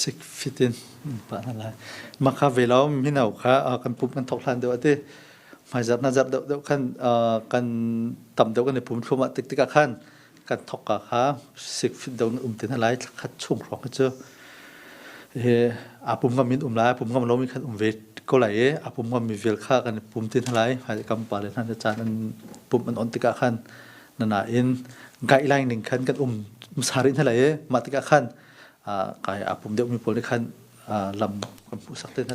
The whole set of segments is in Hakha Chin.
Sik fit in an pah hna lai. Mah kha ve law mino kha uh, kan pum kan thok hlan deuh ati. Hmaizarh nazarh deuh deuh khan uh, kan tam deuh kan i pum thlum ah tik tikah khan kan thawk ka kha sik fit do um te na lai khat chung hrawng cu he apum ngam in um lai apum ngam lomi khan um ve ko lai i apum ngam mi vel kha kan pum tin lai hai kam pa le hnan chan an pum an on tikah khan nana in guideline ning khan kan um sari na lai i mah tikah khan kai apum deuh mi pawl ni khan lam kan puh sak te na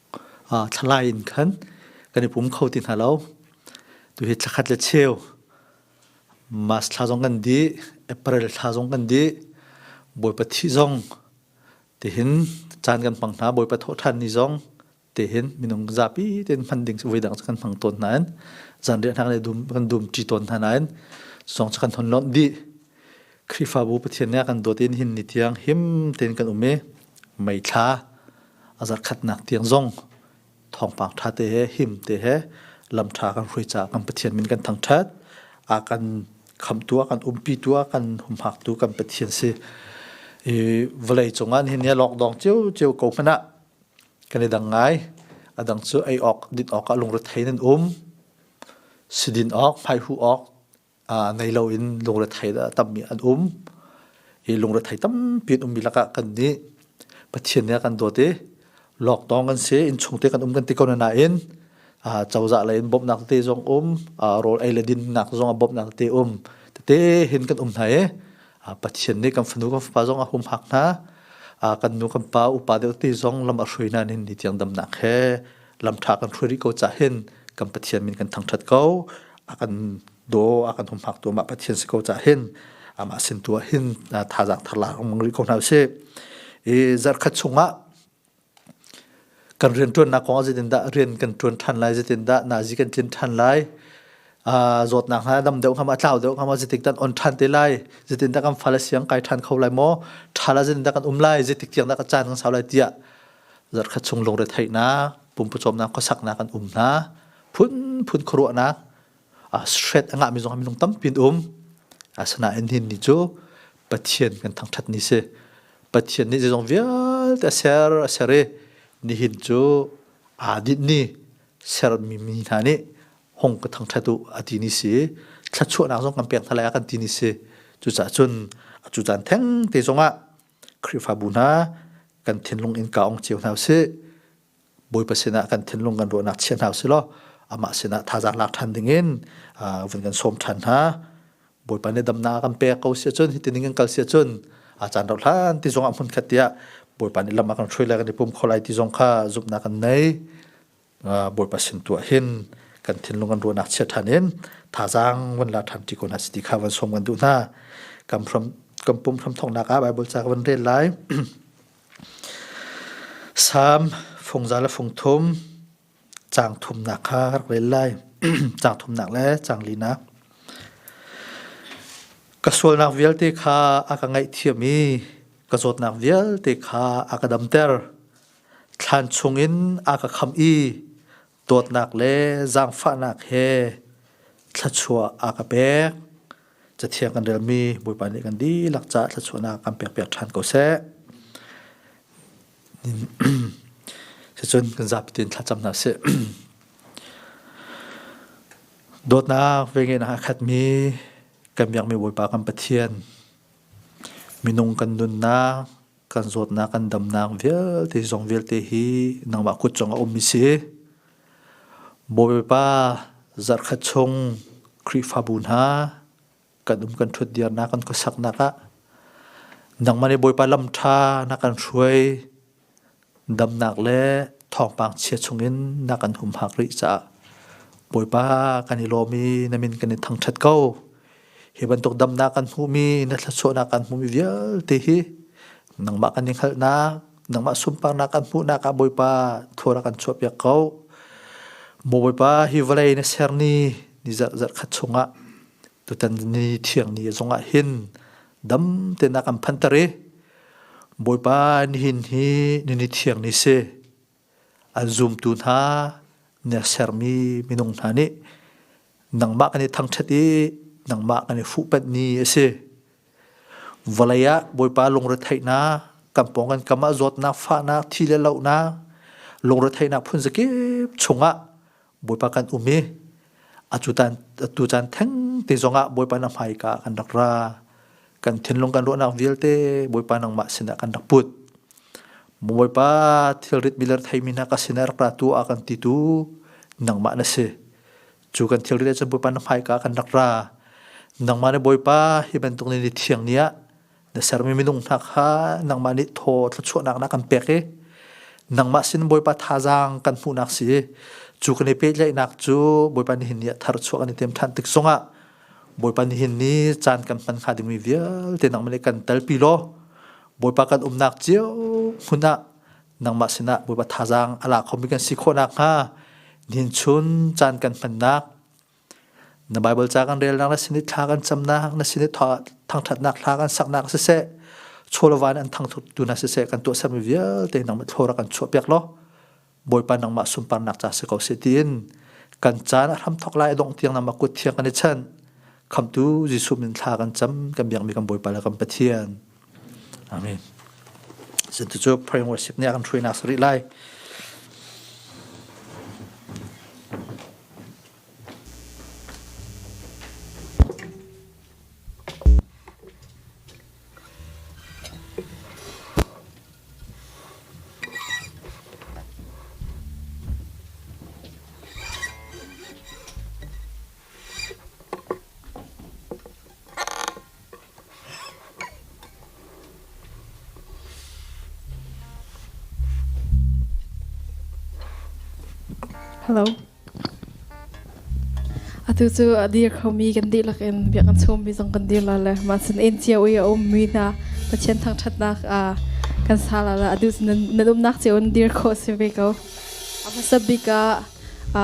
ah thlalai in khan kan i pum kho ti hna lo. Tuhi thla khat le cheu March thla zong kan di, April thla zong kan di, Bawipa thi zong tihin caan kan hmang hna, Bawipa thawh ṭhan ni zong tihin minung zapi tein hman ding voi dang kan hmang tawn hna in zan riah hnak le dum kan dum ṭi tawn hna nain song chu kan thon lonh dih Khrihfabu Pathian nih a kan dawt in hin ni tiang him tein kan um i mei thla a zarkhatnak tiang zong thawngpang ṭha te he him te he lam ṭha kan hruai caah kan Pathian min kan thangṭhat a kan khamtu a kan umpitu a kan humhaktu kan Pathian si i vawlei cungah nihin hi lockdown cio cio ko hmanh ah kan i dang ngai a dang cu ei awk din awk ah lungrethei nan um sidin awk hmaihuh awk uh, ngei lo in lungrethei da tammi an um i lungrethei tampi an ummi lakah kan nih pathian nih kan dawt i lockdown kan si in chung te kan um kan ti ko nain uh, cozah lei in bawmhnak te zong um uh, rawl ei le dinnak zong a bawmhnak te um tete hin kan um hna i uh, pathian nih kan fanu kan fapa zong a humhak hna uh, kan nu kan pa upa deuh ti zong lam a hruina nin ni tiang damnak he lamtha kan hruai rih ko ca hin kan pathian min kan thangthat ko akan do akan humhak tu mah pathian si ko ca hin amah sin tu ah hin thazang thar la mang rih ko hna si i zarkhat chungah kan rian tuan nak kong ah zetin dah rian kan tuan than lai zetin dah nazi kan cin than lai zawt nak hna dam deuh khama tlau deuh khama zetik tan on than te lai zetin dah kan fala siang kai than kho lai mo thala zetin dah kan um lai zetik tiang dah ka chan kan sau lai tia zarkhat chung lungretheihnak, pumpucawmnak, khuasaknak an um hna. Phunphun khuaruahnak, ah stress a ngahmi zong minung tampi an um. Asinain hin ni cu Pathian kan thangṭhat ni si. Pathian nih zeizong vialte a ser, a ser i nihin cu aa dinh ni sermi mi hna nih hong ka thangṭhat u a ti ni si. Thluachuahnak zong kan pek hna lai a kan ti ni si. Cucaah cun a cu caan thengte zongah Khrihfabu hna kan thinlung in ka ong cio hna usih. Bawipa sinah kan thinlung kan ruahnak chia hna usih law amah sinah thazaang lak ṭhan dingin vun kan sawm ṭhan hna. Bawipa nih damnak a kan pek ko sia cun hitining in kal sia cun a caan rauh hlan ti zongah hmun khat tiah Bawipa nih lam a kan hruai lai kan i pum kho lai ti zong kha zumhnak kan nei. Bawipa sin tu ah hin kan thinlung kan ruahnak chia ṭhan in thazaang van la ṭhan ṭi ko hna si ti kha van sawm kan duh hna. Kan from kan pum hram thongnak ah Bible ca ka van rel lai. Psalm fungza le fungthum cang thumnak kha ka rak rel lai. cang thumnak le cang linak. Ka sualnak vialte kha a ka ngaihthiam i ka zawtnak vialte kha a ka damter. Thlan chungin aa ka khamh i dawtnak le zaangfahnak he thluachuah aa ka pek. Cathiang kan relmi Bawipa nih kan dihlak caah thluachuahnak kan pekpiak ṭhan ko seh. Sicun kan zapi tin thlacam hna sih. Dawtnak ve ngein aa khatmi kan biakmi Bawipa kan Pathian minung kan nunnak kan zawtnak kan damnak vialte zong vialte hi nangmah kut cung a um mi si bawipa zarkhat chung khrihfabu hna kan um kan ṭhut diarnak kan khuasaknak ah nangmah nih bawipa lam ṭha na kan hruai damnak le thawngpang chia chungin na kan humhak rih caah Bawipa kan i lawm i na min kan i thangṭhat ko. Hi bantuk damnak kan hmuhmi na thluachuahnak kan hmuhmi vialte hi nangmah kan i hngalhnak, nangmah sunparnak kan hmuhnak ah Bawipa thua rak kan chuahpiak ko. Maw Bawipa hi vawlei na ser ni ni zarh zarh khat chungah Tutan ni thiang ni zong ah hin dam tenak an phantar i Bawipa nihin hi nini thiang ni si an zumtu hna nia sermi minung hna nih nangmah kan i thangṭhat i nangmah kan i fuhpanh ni a si. Vawlei ah Bawipa lungretheihnak kan pawng kan kam ah zawtnak fahnak thi le lohnak lungretheihnak phun zakip chungah Bawipa kan um i atu caan theng te zongah Bawipa na hmaika kan rak ra kan thinlung kan ruahnak vialte Bawipa nangmah sinah kan rak put Bawipa thilrit miler theimi hna ka sinah rak ra tu a kan ti tu nangmah na si cu kan thilrit ah cun Bawipa na hmaika kan rak ra nangmah le Bawipa hi bantuk ni thiang ni ah Na sermi minung hna kha nangmah nih thaw thluachuahnak na kan pek i nangmah sin Bawipa thazaang kan hmuhnak si i cu kan i pehtlaihnak cu Bawipa nihin ni ah thar chuah kan i tem ṭhan tik zongah Bawipa nihin ni caan kan hman hnga dingmi vialte nangmah nih kan telpi law Bawipa kan umnak cio hmun ah nangmah sinah Bawipa thazaang a la khomi kan si khawh nakhnga nihin chun caan kan hmannak Na Baibal ca kan relnak na sin i thla kan camnak, na sin i thangṭhatnak hla kan saknak siseh, chawlova in an thangthuttu hna siseh kan tuahsermi vialte nangmah thlawra kan chuahpiak law Bawipa nangmah sunparnak ca si ko seh tiin kan caan a hramthok lai a dongh tiang nangmah kut thiang kan i chanh. Khamtu Jesuh min thla kan cam, kan biakmi kan Bawipa le kan Pathian. Amen. Cucu prayer worship nih a kan hruainak sarih lai. Hello. Atu cu a dir khomi kan dihlak in biak an chawmi zong kan dir la le ma sin in cia ui a ummi hna Pathian thangṭhatnak a kan sa la la adu na dumnak cio in dir kho si ve ko. A hmasa bik ah a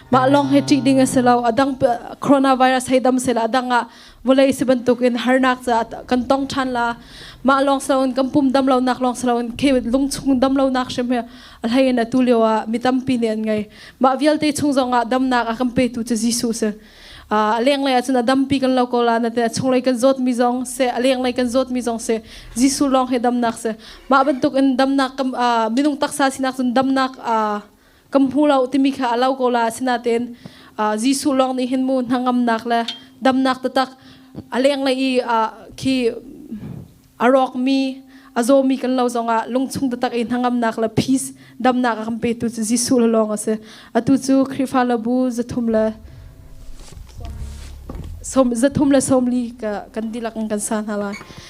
mah lawng hi ṭih ding a si lo a dang coronavirus hei dam sela a dang ah vawlei si bantuk in harnak caah kan tong ṭhan la mah lawng si loin kan pum dam lonak lawng si loin khi lungchung dam lonak hrim hi a hlei in atu lio ah mi tampi nih an ngei mah vialte chung zong ah damnak a kan petu cu Jesuh si a lenglei ahcun a dampi kan lo ko la na te a chunglei kan zawtmi zong se a lenglei kan zawtmi zong se Jesuh lawng hi damnak se mah bantuk in damnak minung taksa sinak cun damnak kan hmu lo timi kha a lo ko la sinaten Jesuh lawng nih hin mu hnangamnak le damnak tatak a leng le i khi a rawk mi a zaw mi kan lo zongah lungchung tatak i hnangamnak le peace damnak a kan petu cu Jesuh le lawng a si atu cu Khrihfa labu zathum le som zathum le somli ka kan dilak in kan sa hna lai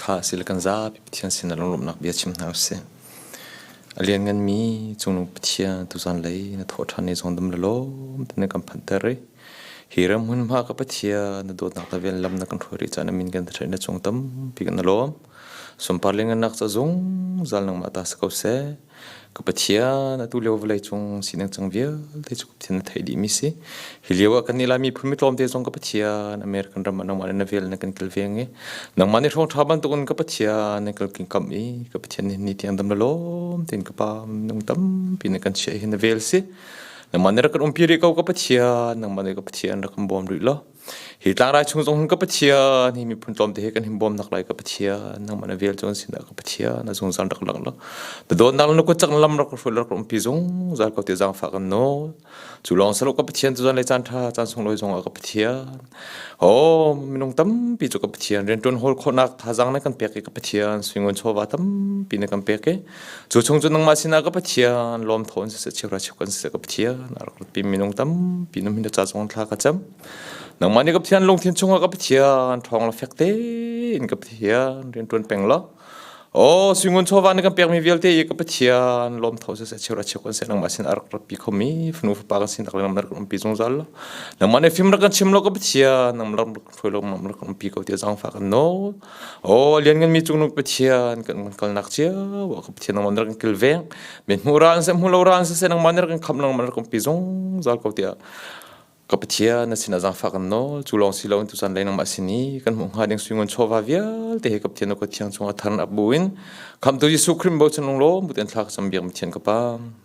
Kha sile kan zapi Pathian sinah lunglawmhnak bia chim hna usih. A liannganmi Cungnung Pathian tuzan lei na thawhṭhan i zongdam la lawm te na kan phanhter i hi ram hmunhma ka Pathian na dawtnak le ven lam na kan hruai rih caan ah min kan thaṭheih na cung tampi kan na lawm. Sunpar lengannak ca zungzal nangmah ta si ko seh. Ka Pathian atu lio vawlei cung sining cang vialte cu Pathian na theih dihmi si. Hi lio ah kannih Lai miphun mitlawmte zong ka Pathian American ram ah nangmah le na vel na kan kilveng i nangmah nih hrawngṭha bantukin ka Pathian na kal king kam i ka Pathian nih ni tiang dam na lawm tein ka Pa minung tampi na kan chiah hi na vel si. Nangmah nih rak kan umpi rih ko ka Pathian nangmah nih ka Pathian rak kan bawm rih law hi tlangrai chung zong hin ka pathian hi miphun tlawm te hi kan him bawmnak lai ka pathian nangman a vel chon sin ka pathian na zung zan rak rak rak da don nak nu ko chak lam rak hrul rak ram pi zong zal ko te zang fa kan no chu long salo ka pathian zu zan lai chan tha chan sung loi zong ka pathian ho minung tam pi chu ka pathian ren tun hol kho nak tha zang na kan pek ka pathian swingon chova tam pi na kan pek ke cu chung cu nangmah sinah ka pathian lom thawn si se chiura chip kan se ka pathian aro pi minung tam pi num hin cha chong thla ka cham nangmah ni ka pathian lungthin chunga ka pathian thong la fek te in ka pathian rin tun peng la o singun chowa ni kan pek mi vialte i ka pathian lom thaw se chiura chip kan se nangmah sin arak pi khomi funu fa pa kan sin tak lam pi zungzal nangmah ne film ra kan chim lo ka pathian nam lam hruilokmam rak umpi ko tiah zaangfah kan nawl. Aw liannganmi cungnung Pathian kan van kalnak cio ah ka Pathian nangmah nih rak in kilveng. Me hmu ra an seh hmu lo ra an seh nangmah nih rak in khamh nangmah rak umpi zungzal ko tiah ka Pathian na sinah zaangfah kan nawl. Cu lawng si loin tuchan lei nangmah sin i kan hmuh hnga ding suingun chawva vialte he ka Pathian ka Thiang cungah thar in ap buin Khamhtu Jesuh Khrih bochan lung lawm bu ten thla ka cam biak Pathian ka pam.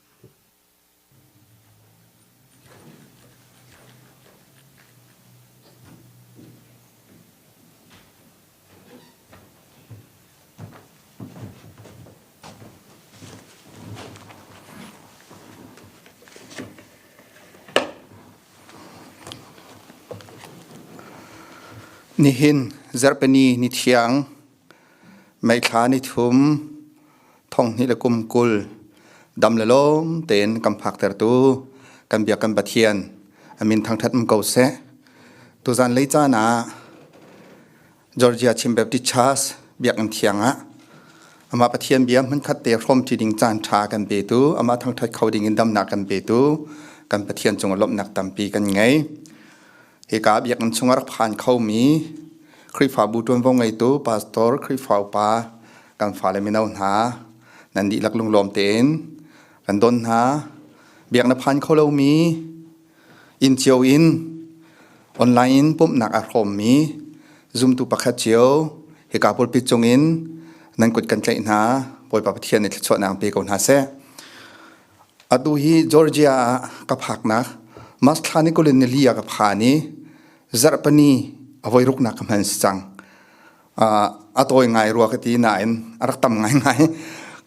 Nihin Zarhpini ni thiang Meithla nih thum, thonghnih le kum kul dam le lawm tein kan phaktertu kan Biak kan Pathian a min thangṭhat um ko seh. Tuzan lei caan ah Georgia Chin Baptist Church Biakinn thiang ah amah Pathian bia hmunkhat te hrawm ṭi ding caan ṭha kan petu amah thangṭhat kho ding in damnak kan petu kan Pathian cungah lawmhnak tampi kan ngei. Hika biakinn chung a rak phan khomi Khrihfabu ṭuanvo ngeitu pastor Khrihfa upa kan fale mino hna nan dihlak lunglawm tein kan don hna. Biak na phan kho lomi inn cio in online in pumhnak a hrawmmi zumtu pakhat cio hika pulpit cung in nan kut kan tlaih hna. Bawipa Pathian nih thluachuahnak pe ko hna seh. Atu hi Georgia ah ka phaknak Masthla nih kul in nili ah ka phan i zarhpini a voi ruknak ka hman si cang. Uh, a tawi ngai rua ka ti nain a rak tam ngaingai.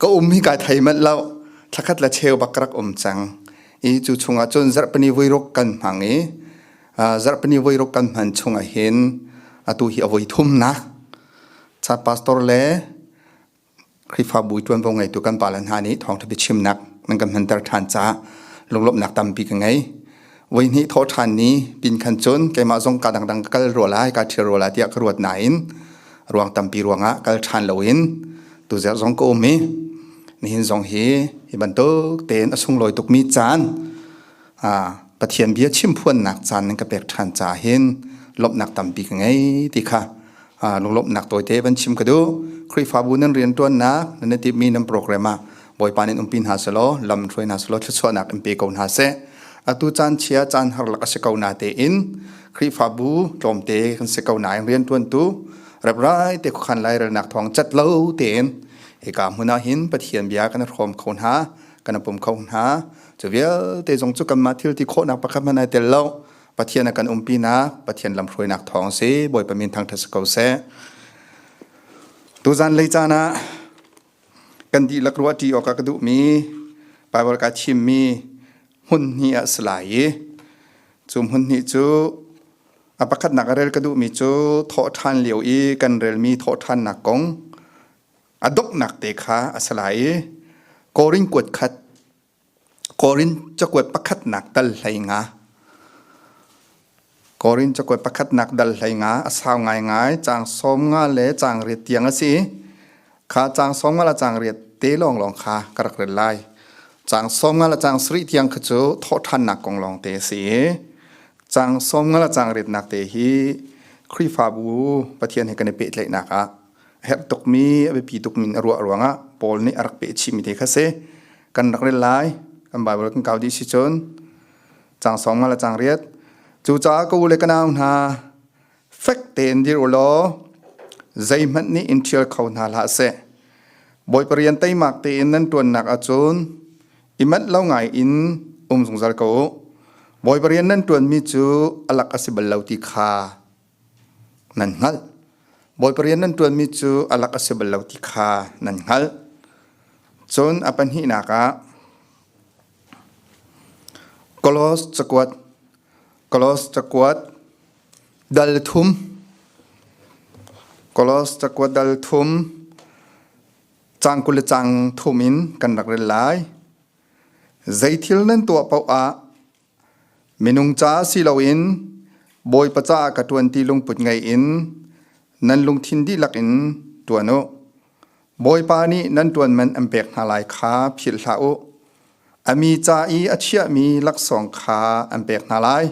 ka um hi kai thei manh lo. Thlakhat la cheu bak ka rak um cang. I cu chungah cun zarhpini voi ruk kan hmang i uh, zarhpini voi ruk kan hman chungah hin atu hi a voi thumnak. Cha pastor le Khrihfabu ṭuanvo ngeitu kan pale hna nih thawngṭha biachimnak nan kan hmanter ṭhan caah lunglawmhnak tampi ka ngei. Voi hnih thawh ṭhan ni pin khan cun keimah zong ka dangdang ka kal rua lai, ka ṭhil rua lai tiah ka ruat nain ruang tampi ruangah kal ṭhan loin tu ziar zong ka um i nihin zong hi hi bantuk tein a sunglawi tukmi caan Pathian bia chim phuannak caan nan ka pek ṭhan caah hin lawmhnak tampi ka ngei ti kha lunglawmhnak tawite van chim ka duh. Khrihfabu nan rianṭuannak nan i timhmi nan program ah Bawipa nih umpi hna selaw lam hruai hna selaw thluachuahnak in pe ko hna seh. Atu caan chia caan har lak a si ko na tein Khrihfabu tlawmte kan si ko na in rianṭuantu reprai te khuakhan lairelnak thawng cat lo tein hika hmun ah hin Pathian bia kan rawm kho hna, kan pum kho hna. cu vialte zong cu kanmah thil ti khawhnak pakhat hmanh ai tel lo pathian a kan umpinak pathian lamhruainak thawng si bawipa min thangtha si ko seh tuzan lei caan ah kan dihlak ruah ṭi awk a ka duhmi Bible ka thimmi hmun hni ah si lai i cu hmun hni cu a pakhatnak a rel ka duhmi cu thawh ṭhan lio i kan relmi thawh ṭhannak kong a doknak te kha a si lai i Korin kuat khat Korin cakuat pakhatnak dal hlei nga Korin cakuat pakhatnak dal hlei nga a sau ngai ngai cang sawm nga le cang riat tiang a si i kha cang sawm nga le cang riat te lawng lawng kha ka rak rel lai cang sawm nga le cang sari tiang kha cu thawhthannak kong lawng te a si i cang sawm nga le cang riatnak te hi Khrihfabu Pathian he kan i pehtlaihnak ah a herh tukmi a biapi tukmi in a ruah ruangah Paul nih a rak peh chihmi te kha si kan rak rel lai kan Bible kan kau dih si cun cang sawm nga le cang riat cu caah ka u le ka nau hna fek tein dir u law zeihmanh nih in ṭhial kho hna hlah seh bawi parian teimak tein nan ṭuannak ahcun i manh lo ngai in um zungzal ko u bawi parian nan ṭuanmi cu alak a si bal lo ti kha nan hngalh. Bawipa rian nan ṭuanmi cu a lak a si bal lo ti kha nan hngalh. Cun a pahnihnak ah Kolos cakuat Kolos cakuat dal thum Kolos cakuat dal thum cang kul le cang thum in kan rak rel lai. Zei thil nan tuah paoh ah Minung caah si loin Bawipa caah ka ṭuan ti lungput ngei in nan lungthin dihlak in ṭuan u. Bawipa nih nan ṭuanman an pek hna lai kha philh hlah u. A mi ca i a chiahmi laksawng kha an pek hna lai.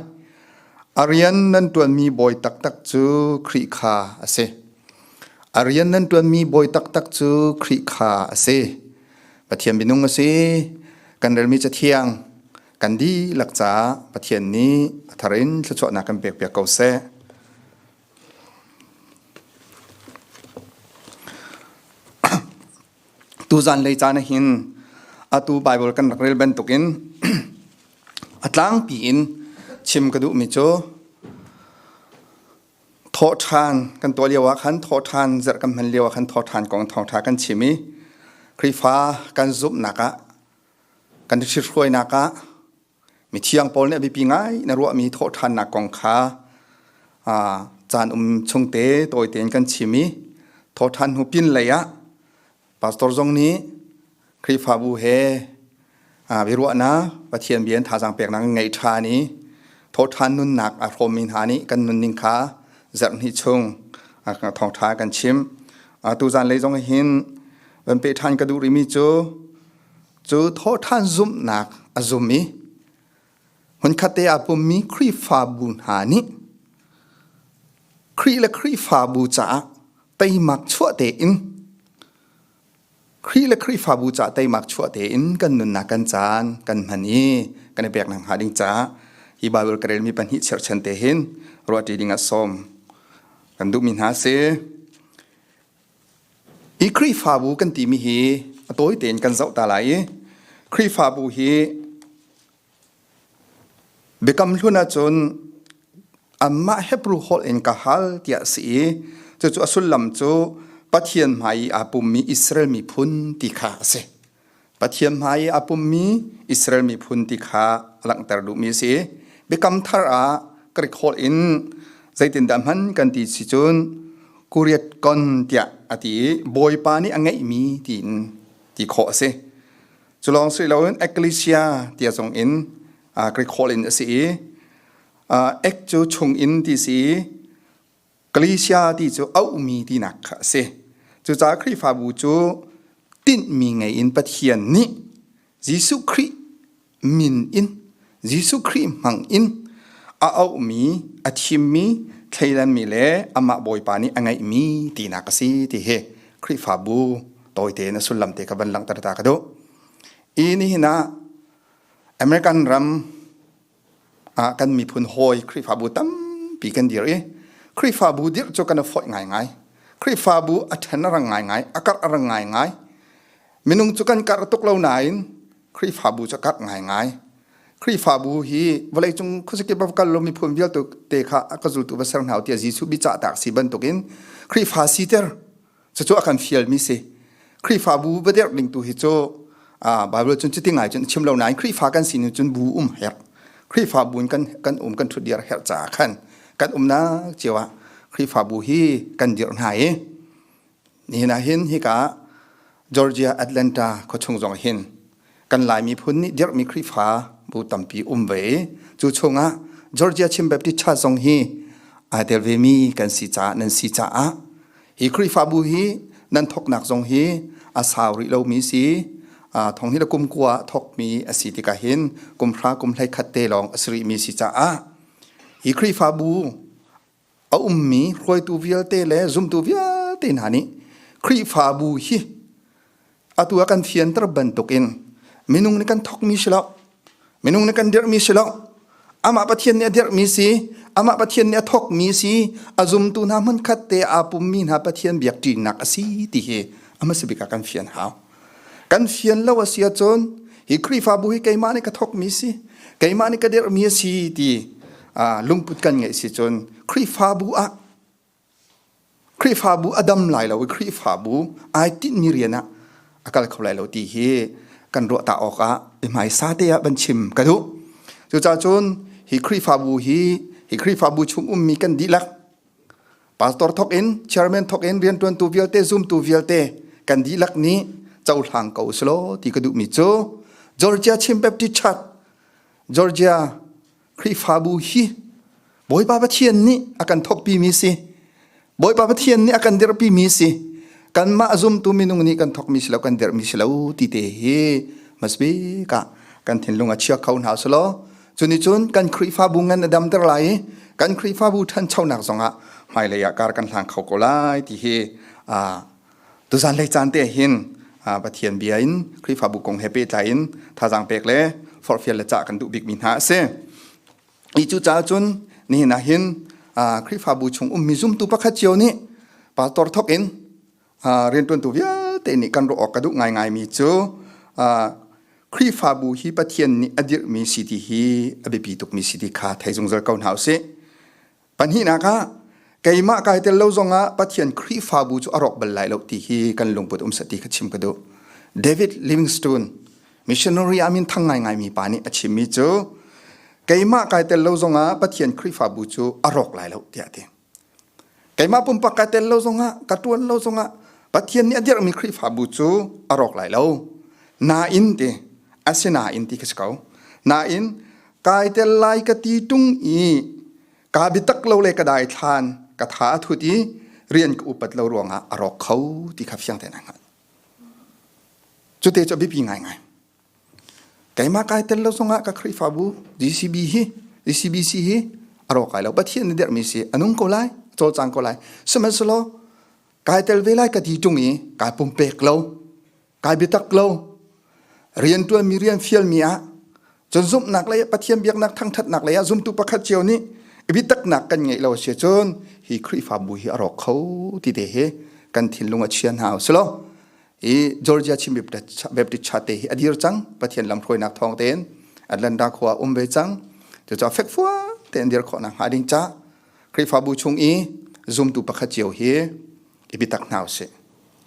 A rian nan ṭuanmi bawi taktak cu Khrih kha a si. A rian nan ṭuanmi bawi taktak cu Khrih kha a si. Pathian minung a si. Kan relmi cathiang Kan dihlak caah Pathian nih a thar in thluachuahnak kan pekpiak ko seh. Tuzan lei caan ah hin atu Bible kan rak rel bantukin a tlangpi in chim ka duhmi cu thawhṭhan kan tuah lio ah khan thawhṭhan zarh kan hman lio ah khan thawhṭhan kong thawngṭha kan chim i Khrihfa kan zumhnak ah kan i hrithruainak ah mithiang Paul nih a biapi ngai na ruahmi thawhṭhannak kong kha caan um chungte tawite in kan chim i thawhṭhan hnu pin lei ah pastor zong nih Khrihfabu he biaruahnak Pathian bia in thazaang peknak in ngei ṭhan i thawhṭhan nunnak a hrawmmi hna nih kan nunning kha zarh hnih chung thawngṭha kan chim. Atu zanlei zong hin van peh ṭhan ka duh rimi cu cu thawhṭhan zumhnak a zum i hmunkhatte aa pummi Khrihfabu hna nih Khrih le Khrihfabu caah teimak chuah tein Khrih le Khrihfabu caah teimak chuah tein kan nunnak kan caan kan hman i kan i peknak hnga ding caah hi Baibal ka relmi pahnih cherhchan te hin ruahṭi ding a sawm kan duhmi hna si Hi Khrihfabu kan timi hi a tawi tein kan zoh ta lai i Khrihfabu hi Biakam Hlun ahcun anmah Hebrew holh in ka hal tiah a si i cucu a sullam cu Pathian hmai i aa pummi Israel miphun ti kha a si. Pathian hmai i a pummi Israel miphun ti kha langhter duhmi a si. Biakam thar ah ka record in zeitindah hman kan ti si cun kuriat kon tiah a ti i bawipa nih a ngeihmi tiin ti khawh a si. Cu lawng si loin ecclesia tia zong in ka record in a si i ek cu chung in ti si Galatia ti cu auhmi tinak kha a si. Cucaah Khrihfabu cu tinhmi ngei in Pathian nih Jesuh Khrih min in Jesuh Khrih hmang in a auhmi, a thimmi, thleidanmi le amah Bawipa nih a ngeihmi tinak a si ti hi Khrihfabu tawite in a sullam te kha van langhter ta ka duh. Hi nihin ah American ram ah kan miphun hawi Khrihfabu tampi kan dir i Khrihfabu dirh cu kan foih ngaingai Khrihfabu a ṭhen a rang ngaingai a karh a rang ngaingai minung cu kan karh tuk lo nain Khrihfabu cu karh ngaingai Khrihfabu hi vawleicung khuazakip a kal lo miphun vialte kha a ka zultu va ser hna u tiah Jesuh bicahtak si bantukin Khrihfa siter cucu a kan fial mi si Khrihfabu bader ning tu hi cu Bible cun cuti ngai cun chim lo nain Khrihfa kan sin cun bu um hek Khrihfa bun kan kan um kan thut dir her cha khan kan um na chewa Khrihfabu hi kan dir hna i ni na hin hi ka Georgia Atlanta khawchung zong hin kan lai miphun nih dirhmi Khrihfa bu tampi um ve cu chungah Georgia Chin Baptist Church zong hi ai tel ve mi kan si caah nan si caah hi Khrihfabu hi nan thoknak zong hi a sau rih lo mi si thong hi la kum kua thok mi a si tika hin kum hra kum hlei khat te lawng a si rih mi si caah hi Khrihfabu a ummi hruaitu vialte le zumtu vialte hna nih Khrihfabu hi atu a kan fianter bantukin minung nih kan thokmi si lo minung nih kan dirhmi si lo amah pathian nih a dirhmi si amah pathian nih a thokmi si a zumtu hna hmunkhat te aa pummi hna pathian biakṭinak a si ti hi a hmasabik ah kan fian hau Kan fian lo a si ahcun hi Khrihfabu hi keimah nih ka thokmi si, keimah nih ka derhmi a si ti lungput kan ngeih si cun Khrihfabu ah Khrihfabu a dam lai lo i Khrihfabu ai tinhmi rian ah a kal kho lai lo ti hi kan ruahta awkah i hmaisa te ah van chim ka duh. Cucacun hi Khrihfabu hi hi Khrihfabu chung ummi kan dihlak Pastor thok in chairman thok in riantuantu vialte zumtu vialte kan dihlak nih cohlang ko slo ti ka duh mi cu Georgia Chin Baptist Church Georgia Khrihfabu hi Bawipa Pathian nih a kan thokpi mi si Bawipa Pathian nih a kan dirpi mi si kanmah zumtu minung nih kan thok mi silo kan derh mi silo ti te hi must be ka kan thinlung a chia kho hna slo Cunicun kan Khrihfabu ngan a damter lai i kan Khrihfabu ṭhanchonak zongah hmailei ah kar kan hlang kho ko lai ti hi tuzan lei caan te hin Pathian bia in Khrihfabu kong he pehtlai in thazaang pek le forhfial le cah kan duh bikmi hna a si. Hi cu caah cun nihin ah hin Khrihfabu chung ummi zumtu pakhat cio nih pastor thok in riantuantu vialte nih kan ruah awk ka duh ngaingaimi cu Khrihfabu hi Pathian nih a dirhmi si ti hi a biapi tukmi si ti kha thei zungzal ko hna usih. Pahnihnak ah, keimah kai tel lo zongah Pathian Khrihfabu cu a rawk bal lai lo ti hi kan lungput um ti ka chim ka duh. David Livingstone, missionary a min thang ngaingaimi pa nih a chimmi cu, keimah kai tel lo zongah Pathian Khrihfabu cu a rawk lai lo tiah a ti. Keimah pumpak ka tel lo zongah ka ṭuan lo zongah Pathian nih a dirhmi Khrihfabu cu a rawk lai lo. Nain ti asinain ti ka si ko. Nain kai tel lai ka ti ṭung i ka biatak lo le ka daithlan ka tha a thut i rian ka upat lo ruangah a rawk kho ti kha fiang tein an hngalh. Cute cu a biapi ngaingai. Keimah kai tel lo zongah ka Khrihfabu DCB hi DCBC hi a rawk kai lo. Pathian nih derhmi si a nung ko lai, a cawlcang ko lai. Sihmanhsehlaw kai tel ve lai ka ti ṭung i kai pumpek lo, kai biatak lo. Rianṭuanmi rian fialmi ah cun zumhnak lei ah Pathian biaknak thangṭhatnak lei ah zumtu pakhat cio nih i biataknak kan ngeih lo a si cun hi Khrihfabu hi a rawk kho ti te hi kan thinlung a chia hna u sih law i Georgia Chin Baptist Church hi a dir cang Pathian lam hruainak thawng tein Atlanta khua um ve cang cucaah fekfua tein dir khawhnak hnga ding ca Khrihfabu chung i zumtu pakhat cio hi i bitak hna usih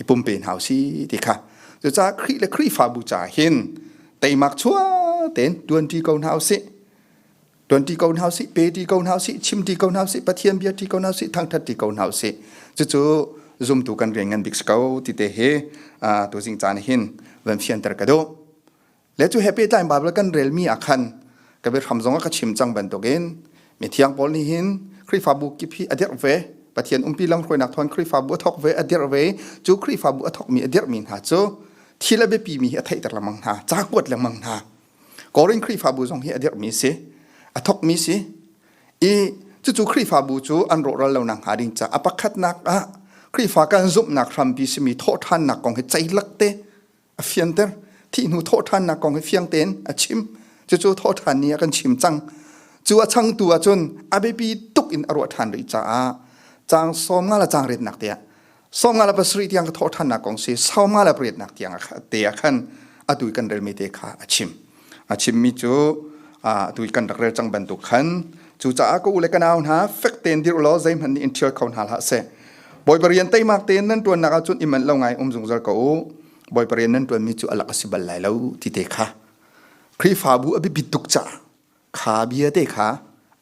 i pumpe hna usih ti kha cucaah Khrih le Khrihfabu ca hin teimak chuah tein tuanṭi ko hna usih tuan ti ko hna sih pe ti ko hna sih chim ti ko hna sih pathian bia ti ko hna sih thangthat ti ko hna sih cucu zumtu kan rian ngan bik ko ti te he tu jing caan hin van fian ter ka do le chu happy time bible kan rel mi akhan ka be ram zong ka chim chang ban tokin mi thiang paul ni hin khrifabu ki phi ader ve pathian umpi lang khoi nak thon khrifabu thok ve ader ve chu khrifabu athok mi ader min ha chu thila be pi mi hi athai tar lamang ha cha kuat lamang ha Korin Khrihfabu zong hi a dirhmi si, a thokmi si. I cucu Khrihfabu cu an rawhral lonak hnga ding caah a pakhatnak ah Khrihfa kan zumhnak hrampi simi thawhṭhannak kong hi ceilak te a fianter. Thihnu thawhṭhannak kong hi fiang tein a chim. Cucu thawhṭhan ni ah kan chim cang. Cu a changtu ahcun a biapi tuk in a ruah ṭhan rih caah caang sawm nga le caang retnak tiah Sawm nga le pasarih tiang ka thawh ṭhannak kong si sau nga le pariatnak tiang te ah khan atu i kan relmi te kha a chim. A chimmi cu atu i kan rak rel cang bantuk khan cucaah ka u le ka nau hna fek tein dirh law zeihmanh nih in ṭhial kho hna hlah seh. Bawi parian teimak tein nan ṭuannak ahcun i manh lo ngai um zungzal ko u. Bawi parian nan ṭuanmi cu alak a si bal lai lo ti te kha Khrihfabu a biapit tuk caah kha bia te kha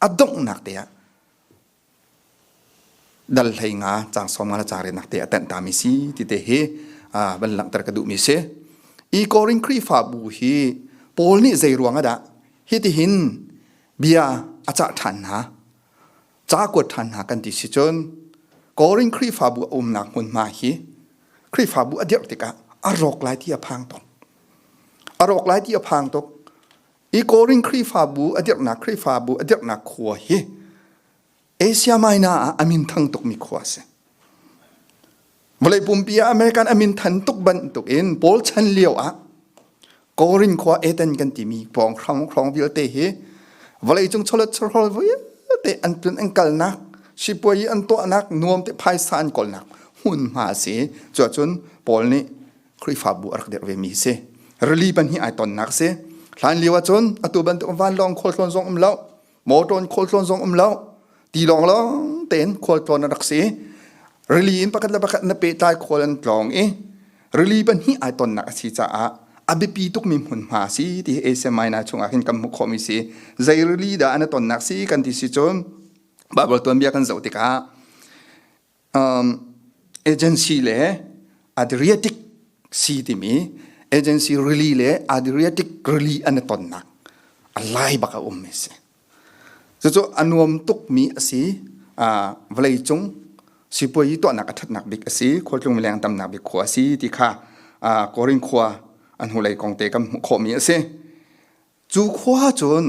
a donghnak te ah Dal hlei nga cang sawm nga le cang renak te a tenh tami si tite hi van langhter ka duhmi si. Hi Korin Khrihfabu hi Paul nih zei ruang ah dah hitihin bia a cah ṭhan hna, ca a kuat ṭhan hna kan ti si cun Korin Khrihfabu a umnak hmunhma hi Khrihfabu a dirh tikah a rawk lai ti a phang tuk. A rawk lai ti a phang tuk. i Korin Khrihfabu a dirhnak Khrihfabu a dirhnak khua hi Asia Minor ah a min thang tukmi khua a si. Vawlei pumpi ah American a min than tuk bantuk in Paul chan lio ah Korin khua Eden kan timi pawng hrang hrang vialte hi vawlei cung cholet chorhol vialte an tun an kalnak sipuai an tuahnak nuam te phaisa an kolnak hmunhma si cu cun Paul nih Khrihfabu a rak dirh vemi hi si. Rili pan hi ai tonnak si. Hlan lio ahcun atu bantuk vanlawng khualtlawn zong um lo. Motor in khualtlawn zong um lo. Tilawng lawng tein khualtlawn a rak si. Rili in pakhat le pakhat na pehtlai khual an tlawng i rili pan hi ai tonnak a si caah a biapi tuk mi hmun hma si ti Asia Minor chungah hin kan hmuh khawh mi si. Zei rili dah an tonnak si kan ti si cun Bible tuanbia kan zoh tikah agency le Adriatic Sea timi agency rili le Adriatic rili an i tonnak a lai bak a um mi si. Cucu a nuam tuk mi a si. Vawlei cung sipuai i tuahnak a thatnak bik a si. Khualtlung mileng tamnak bik khua a si ti kha Korin khua an hnulei kong te kan hmuh khawh mi a si. Cu khua cun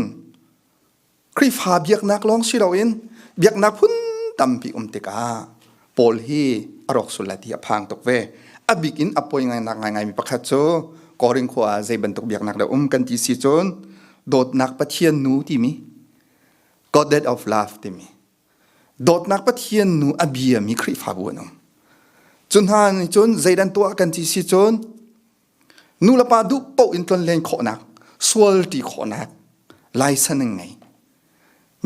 Khrihfa biaknak lawng si loin biaknak phun tampi um tikah Paul hi a rawk sul lai ti a phang tuk ve. A bik in a poi ngainak ngaingaimi pakhat cu Korin khua ah zei bantuk biaknak dah um kan ti si cun dawtnak Pathian nu timi Goddess of Love timi dawtnak Pathian nu a biami Khrihfabu an um. Cu hna nih cun zeidan tuah kan ti si cun nulepa duh paoh in tlon len khawhnak sual ti khawhnak laisan an ngei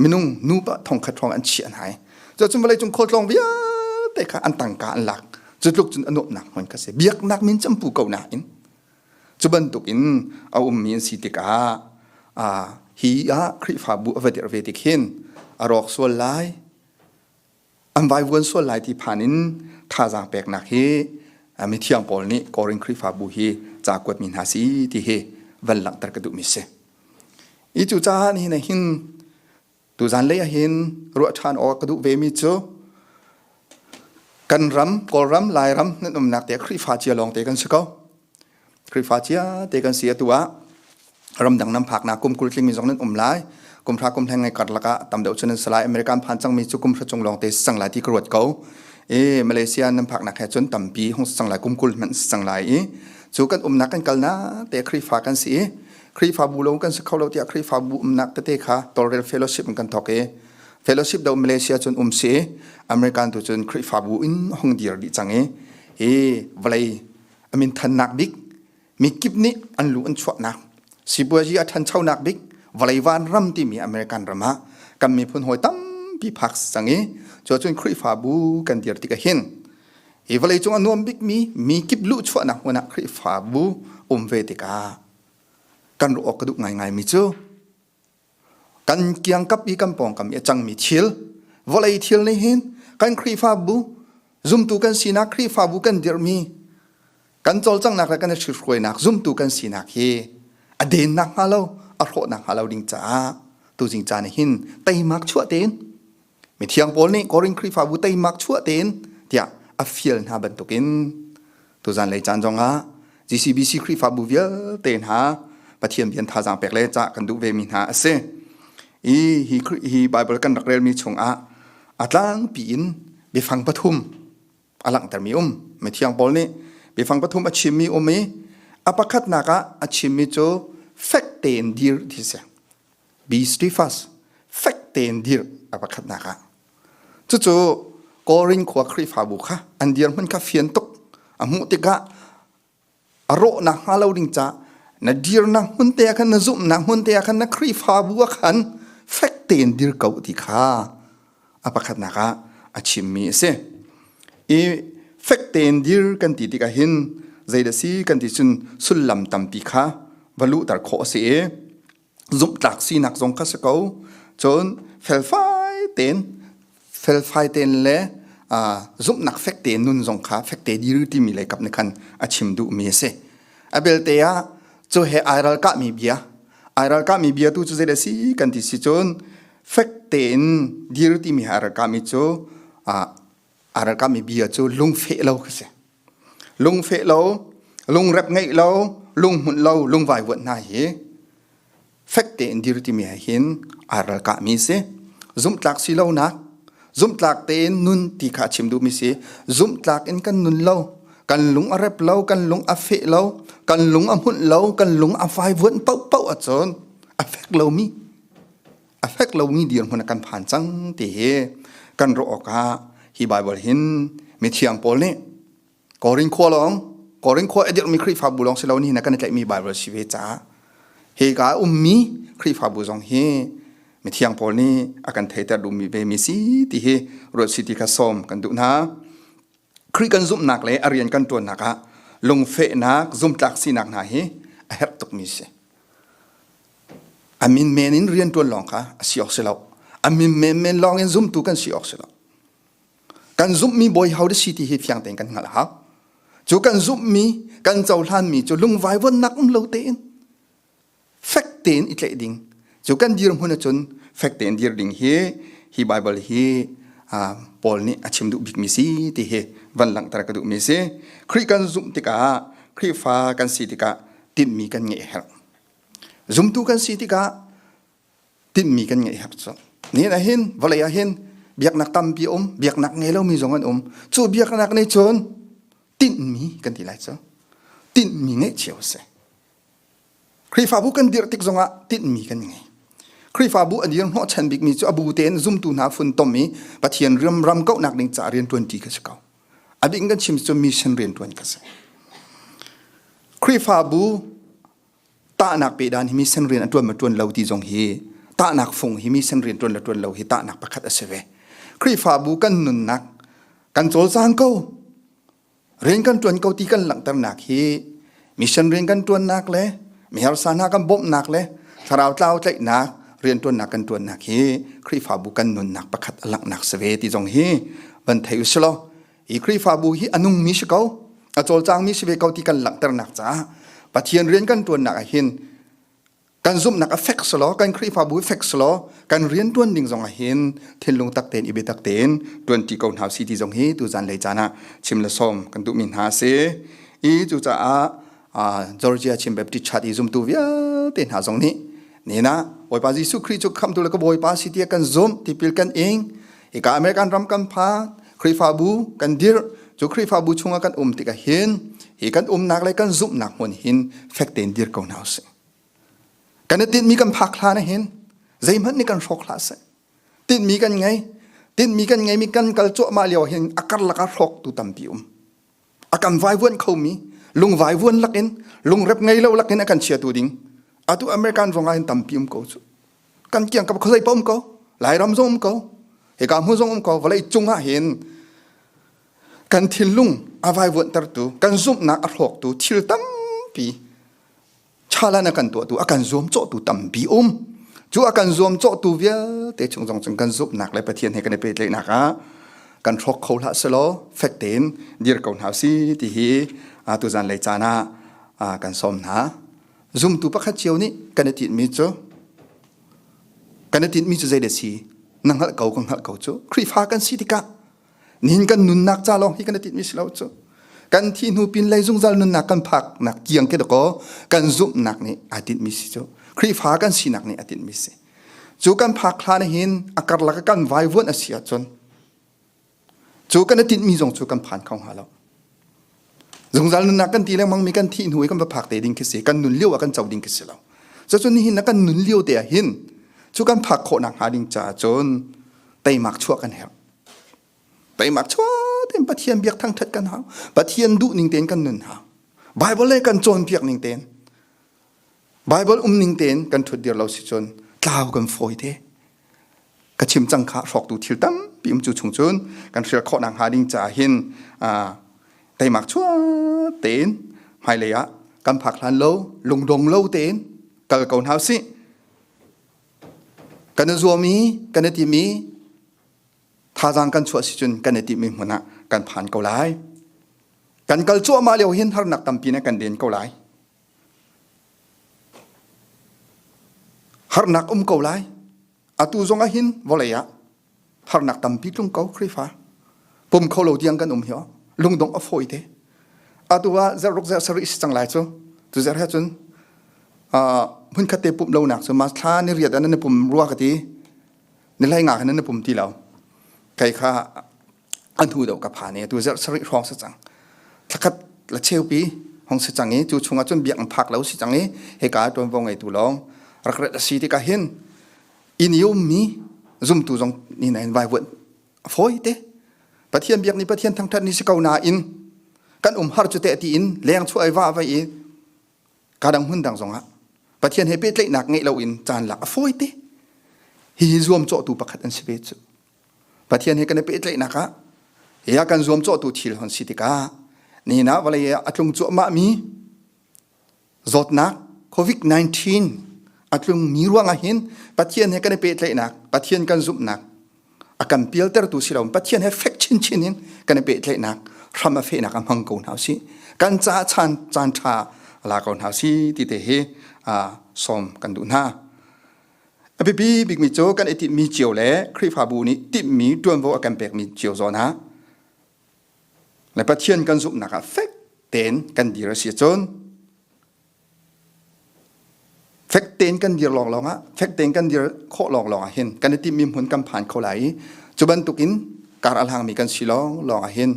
minung nupa thongkhat hrawng an chiah hna i cuacun vawlei cung khualtlawng vialte kha an tangka an lak cu tluk cun anuamnak hmun ka si biaknak min campu ko nain cu bantuk in a ummi an si tikah hi ah khrihfabu a va dir ve tik hin a rawk sual lai an vaivuan sual lai ti phan in thazaang peknak hi mithiang paul nih korin khrifabu hi ca kuat mi hna si ti hi van langhter ka duh mi si i cu caah ni na hin tu zan lei ah hin ruah ṭhan awk ka duh ve mi cu kan ram kawlram lairam nan umnak te khrifa cia lawng te kan si ko Khrihfa cia te kan si atu ah ramdang nan phaknak kum kul tlingmi zong nan um lai kum hra kum hleng ngai karlak ah tam deuh cu nan si lai America an phan cangmi cu kum hra chung lawng te si cang lai ti ka ruat ko i Malaysia nan phaknak he cun tampi hong si cang lai kum kul hmanh si cang lai i cu kan umnak kan kalnak te Khrihfa kan si i Khrihfabu lo kan si kho lo tiah Khrihfabu umnak tete kha tawlrel fellowship kan thawk i fellowship do Malaysia cun um si American tu cun Khrihfabu in hong dir dih cang i hi vawlei a min thannak bik mi kip nih an lu an chuahnak sipuazi a thanchonak bik vawlei van ram timi American ram ah kan miphun hawi tampi phak sang i cu cun Khrihfabu kan dir tik hin i vawlei cung a nuam bik mi mi kip lu chuahnak hmun ah Khrihfabu um ve tikah kan ruh awk ka duh ngai ngai mi cu kan kiang kap i kan pawng kam i a cangmi thil vawlei thil nih hin kan khrihfabu zumtu kan sinak khrihfabu kan dirhmi kan cawlcanghnak le kan i hrihruainak zumtu kan sinak hi a dennak hnga lo a hrawhnak hnga lo ding caah tuzing caan ah hin teimak chuah tein Mithiang Paul nih Korin Khrihfabu teimak chuah tein tiah a fial hna bantukin tuzan lei caan zongah GCBC Khrihfabu vialte hna Pathian bian thazaang pek le cah kan duh ve mi hna a si. I hi hi Bible kan rak relmi chungah a tlangpi in biafang pathum a langhtermi um mithiang paul nih biafang pathum a chimmi um i a pakhatnak ah a chimmi cu fek tein dir ti si be steadfast fek tein dir a pakhatnak ah cucu korin khua khrifabu kha an dir hmun kha fian tuk a hmuh tikah a rawhnak hnga lo ding caah na dirnak hmun te ah khan na zumhnak hmun te ah khan na Khrihfabu ah khan fek tein dir ko ti kha a pakhatnak ah a chimmi a si i fek tein dir kan ti tikah hin zeidah si kan ti cun sullam tampi kha va luhter khawh a si i zumhtlak sinak zong kha si ko cun felfai tein felfai tein le zumhnak fek tein nun zong kha fek te diru timi lei kap ni khan a chim duh mi a si a belte ah cu he ai ral ka mi bia ai ral ka mi bia tu cu zeidah si kan ti si cun fek tein diru timi ha ral ka mi cu a ral ka mi bia cu lungfe lo ka si Lungfeh lo, lungrep ngeih lo, lunghmunh lo, lungvaivuanh hna hi fek tein dir timi he hin aa ralkahmi a si. Zumhtlak si lonak, zumhtlak tein nun ti kha a chim duhmi si. Zumhtlak in kan nun lo, kan lung a rep lo, kan lung a feh lo, kan lung a hmunh lo, kan lung a vaivuanh paohpaoh ahcun a fek lomi a fek lomi dirhmun kan phan cang ti hi kan ruah awkah hi Bible hin mithiang Paul nih Korin khua lawng Korin khua a dirhmi Khrihfabu lawng si lo ni na kan i tlaihmi Bible si ve caah hi ka ummi Khrihfabu zong hi mithiang Paul nih a kan theiter duhmi ve mi si ti hi ruat si ti kha sawm kan duh hna Khrih kan zumhnak le a rian kan ṭuannak ah lungfehnak, zumtlak sinak hna hi a herh tukmi si. A min men in rian ṭuan lawng kha a si awk si lo. A min menmen lawng in zumtu kan si awk si lo. Kan zumhmi bawi hau si ti hi fiang tein kan hngalh a hau. Cu kan zumhmi, kan cohlanmi cu lungvai vonnak um lo tein fek tein i tlaih ding cu kan dirhmun ahcun fek tein dir ding hi hi Bible hi Paul nih a chim duh bikmi si ti hi van langhter ka duhmi si Khrih kan zumh tikah Khrihfa kan si tikah tinhmi kan ngeih a herh zumtu kan si tikah tinhmi kan ngeih a herh cu nihin ah hin vawlei ah hin biaknak tampi um biaknak ngei lomi zong an um cu biaknak nih cun tinhmi kan ti lai cu tinhmi ngeih cio a si Khrihfabu kan dirh tik zongah tinhmi kan ngei. Khrihfabu a dir hnawhchan bikmi cu a bu tein zumtu hna funtom i Pathian riamram kauhnak ding ca rianṭuanṭi ka si ko. A bik in kan chim cu mission rianṭuan ka si. Khrihfabu tahnak pe dan hi mission rian a ṭuan ma ṭuan lo ti zong hi tahnak fung hi mission rian ṭuan le ṭuan lo hi tahnak pakhat a si ve. Khrihfabu kan nunnak kan cawlcaan ko rian kan ṭuan ko ti kan langhternak hi mission rian kan ṭuannak le miharsa kan bawmhnak le thlarau tlau tlaihnak rianṭuannak kan ṭuannak hi Khrihfabu kan nunnak pakhat a langhnak si ve ti zong hi van thei u silaw hi Khrihfabu hi a nungmi si ko a cawlcangmi si ve ko ti kan langhternak caah Pathian rian kan ṭuannak ah hin kan zumhnak a fek selaw kan khrihfabu fek selaw kan rian tuan ding zong ah hin thinlung tak tein ibe tak tein tuan ti ko hna si ti zong hi tu zan lei caan ah chim le som kan duhmi hna si i cucaah Georgia Chin Baptist Church i zumtu vialte hna zong nih nina Bawipa Jesuh Khrih cu khamtu le ka Bawipa si tia kan zumh tipil kan ing ika American ram kan pha Khrihfabu kan dir cu Khrihfabu chungah kan um tika hin hi kan umnak le kan zumhnak hmun hin fek tein dir ko hna usih Kan i tinhmi kan phak hlan ah hin zeihmanh nih kan hrawk hlah seh. Tinhmi kan ngei. Tinhmi kan ngeimi kan kal cuahmah lio hin a karlak ah hrawktu tampi um. A kan vaivuan khomi lungvai vuan lakin lungrep ngei lo lakin a kan chiatu ding. Atu American zong ah hin tampi um ko cu. Kan kiang ka kholei pa um ko. Lairam zong um ko. Hika hmu zong um ko. Vawlei cung ah hin kan thillung a vaivuan tertu, kan zumhnak a hrawktu thil tampi chalan a kan tuahtu a kan zuam cawhtu tampi um cu a kan zuam cawhtu vialte chung zong cun kan zumhnak le pathian he kan i pehtlaihnak ah kan hrawk kho hlah selaw fek tein dir ko hna si ti hi tu zan lei caan ah kan sawm hna zumtu pakhat cio nih kan i tinhmi cu kan i tinhmi cu zei le si na hngalh ko ka hngalh ko cu khrifa kan si tikah Nihin kan nunnak ca lawng hi kan i tinhmi si lo cu. Kan thi hnu pin lei zungzal nunnak kan phaknak kiang ke dakaw kan zumhnak nih ai tinhmi si cu. Khrihfa kan sinak nih a tinhmi si. Cu kan phak hlan hin a karlak kan vaivuan a si ahcun cu kan i tinhmi zong cu kan phan kho hnga lo. zungzal nunnak kan ti lengmang mi kan thih hnu i kan va phak te ding khi si kan nun lio ah kan co ding khi si lo cacun nihin na kan nun lio te ah hin cu kan phak khawh nak hnga ding caah cun teimak chuah kan herh teimak chuah tin pathian biak thang that kan hau pathian duh ning ten kan nun hau bible le kan cawn piak ning ten bible um ning ten kan thut dir lo si cun tlau kan fawi te ka chim cang kha hrawktu thil tampi um cu chung cun kan hrial khawh nak hnga ding caah hin teimak chuah tein hmailei ah kan phak hlan lo lungdong lo tein kal ko hna si kan i zuam i kan i tim i thazaang kan chuah si cun kan i tim i hmun ah kan phan ko lai kan kal cuahmah lio hin harnak tampi ne kan den ko lai Harnak um ko lai. Atu zong ah hin vawlei ah harnak tampi tlung ko Khrihfa. Pum kho lo tiang kan um hi oh. Lungdong a fawi te. Atu ah zeruk zer sari si cang lai cu. Tu zer he cun hun khat te pum lo nak cu mas thla ni riat an ni pum rua ka ti ni lai nga kan ni pum ti lo. Kai kha a hnu deuh ka phan i atu zarh sarih hrawng si cang thlakhat la cheupi hong si cang i cu chungah cun biak an phak lo si cang i heka ṭuanvo ngeitu lawng rak rat a si tikah hin in i ummi zumtu zong ni nain vaivuanh a fawi te pathian biak ni pathian thangṭhat ni si ko nain kan um har cu teh ti in leng chuah ai va vai i kadang hmun dang zongah pathian he pehtlaihnak ngeih lo in caan lak a fawi te hi zuam cawhtu pakhat an si ve cu Pathian he kan i pehtlaihnak ah ya kan zuamcawhtu thil hon si tikah nihin ah vawlei ah a tlung cuahmah mi zawtnak COVID-19 a tlungmi ruangah hin Pathian he kan i pehtlaihnak Pathian kan zumhnak a kan pialtertu si lo Pathian he fek chinchin in kan i pehtlaihnak hram a fehnak a hmang ko hna si kan ca chan caan ṭha la ko hna si ti te hi sawm kan duh hna A biapi bikmi cu kan i timhmi cio le Khrihfabu nih timhmi ṭuanvo a kan pekmi cio zawn ah le Pathian kan zumhnak ah fek tein kan dir a si cun fek tein kan dir lawnglawng ah fek tein kan dir khawh lawnglawng ah hin kan i timhmi hmun kan phan kho lai i cu bantukin kar a hlangmi kan si lawnglawng ah hin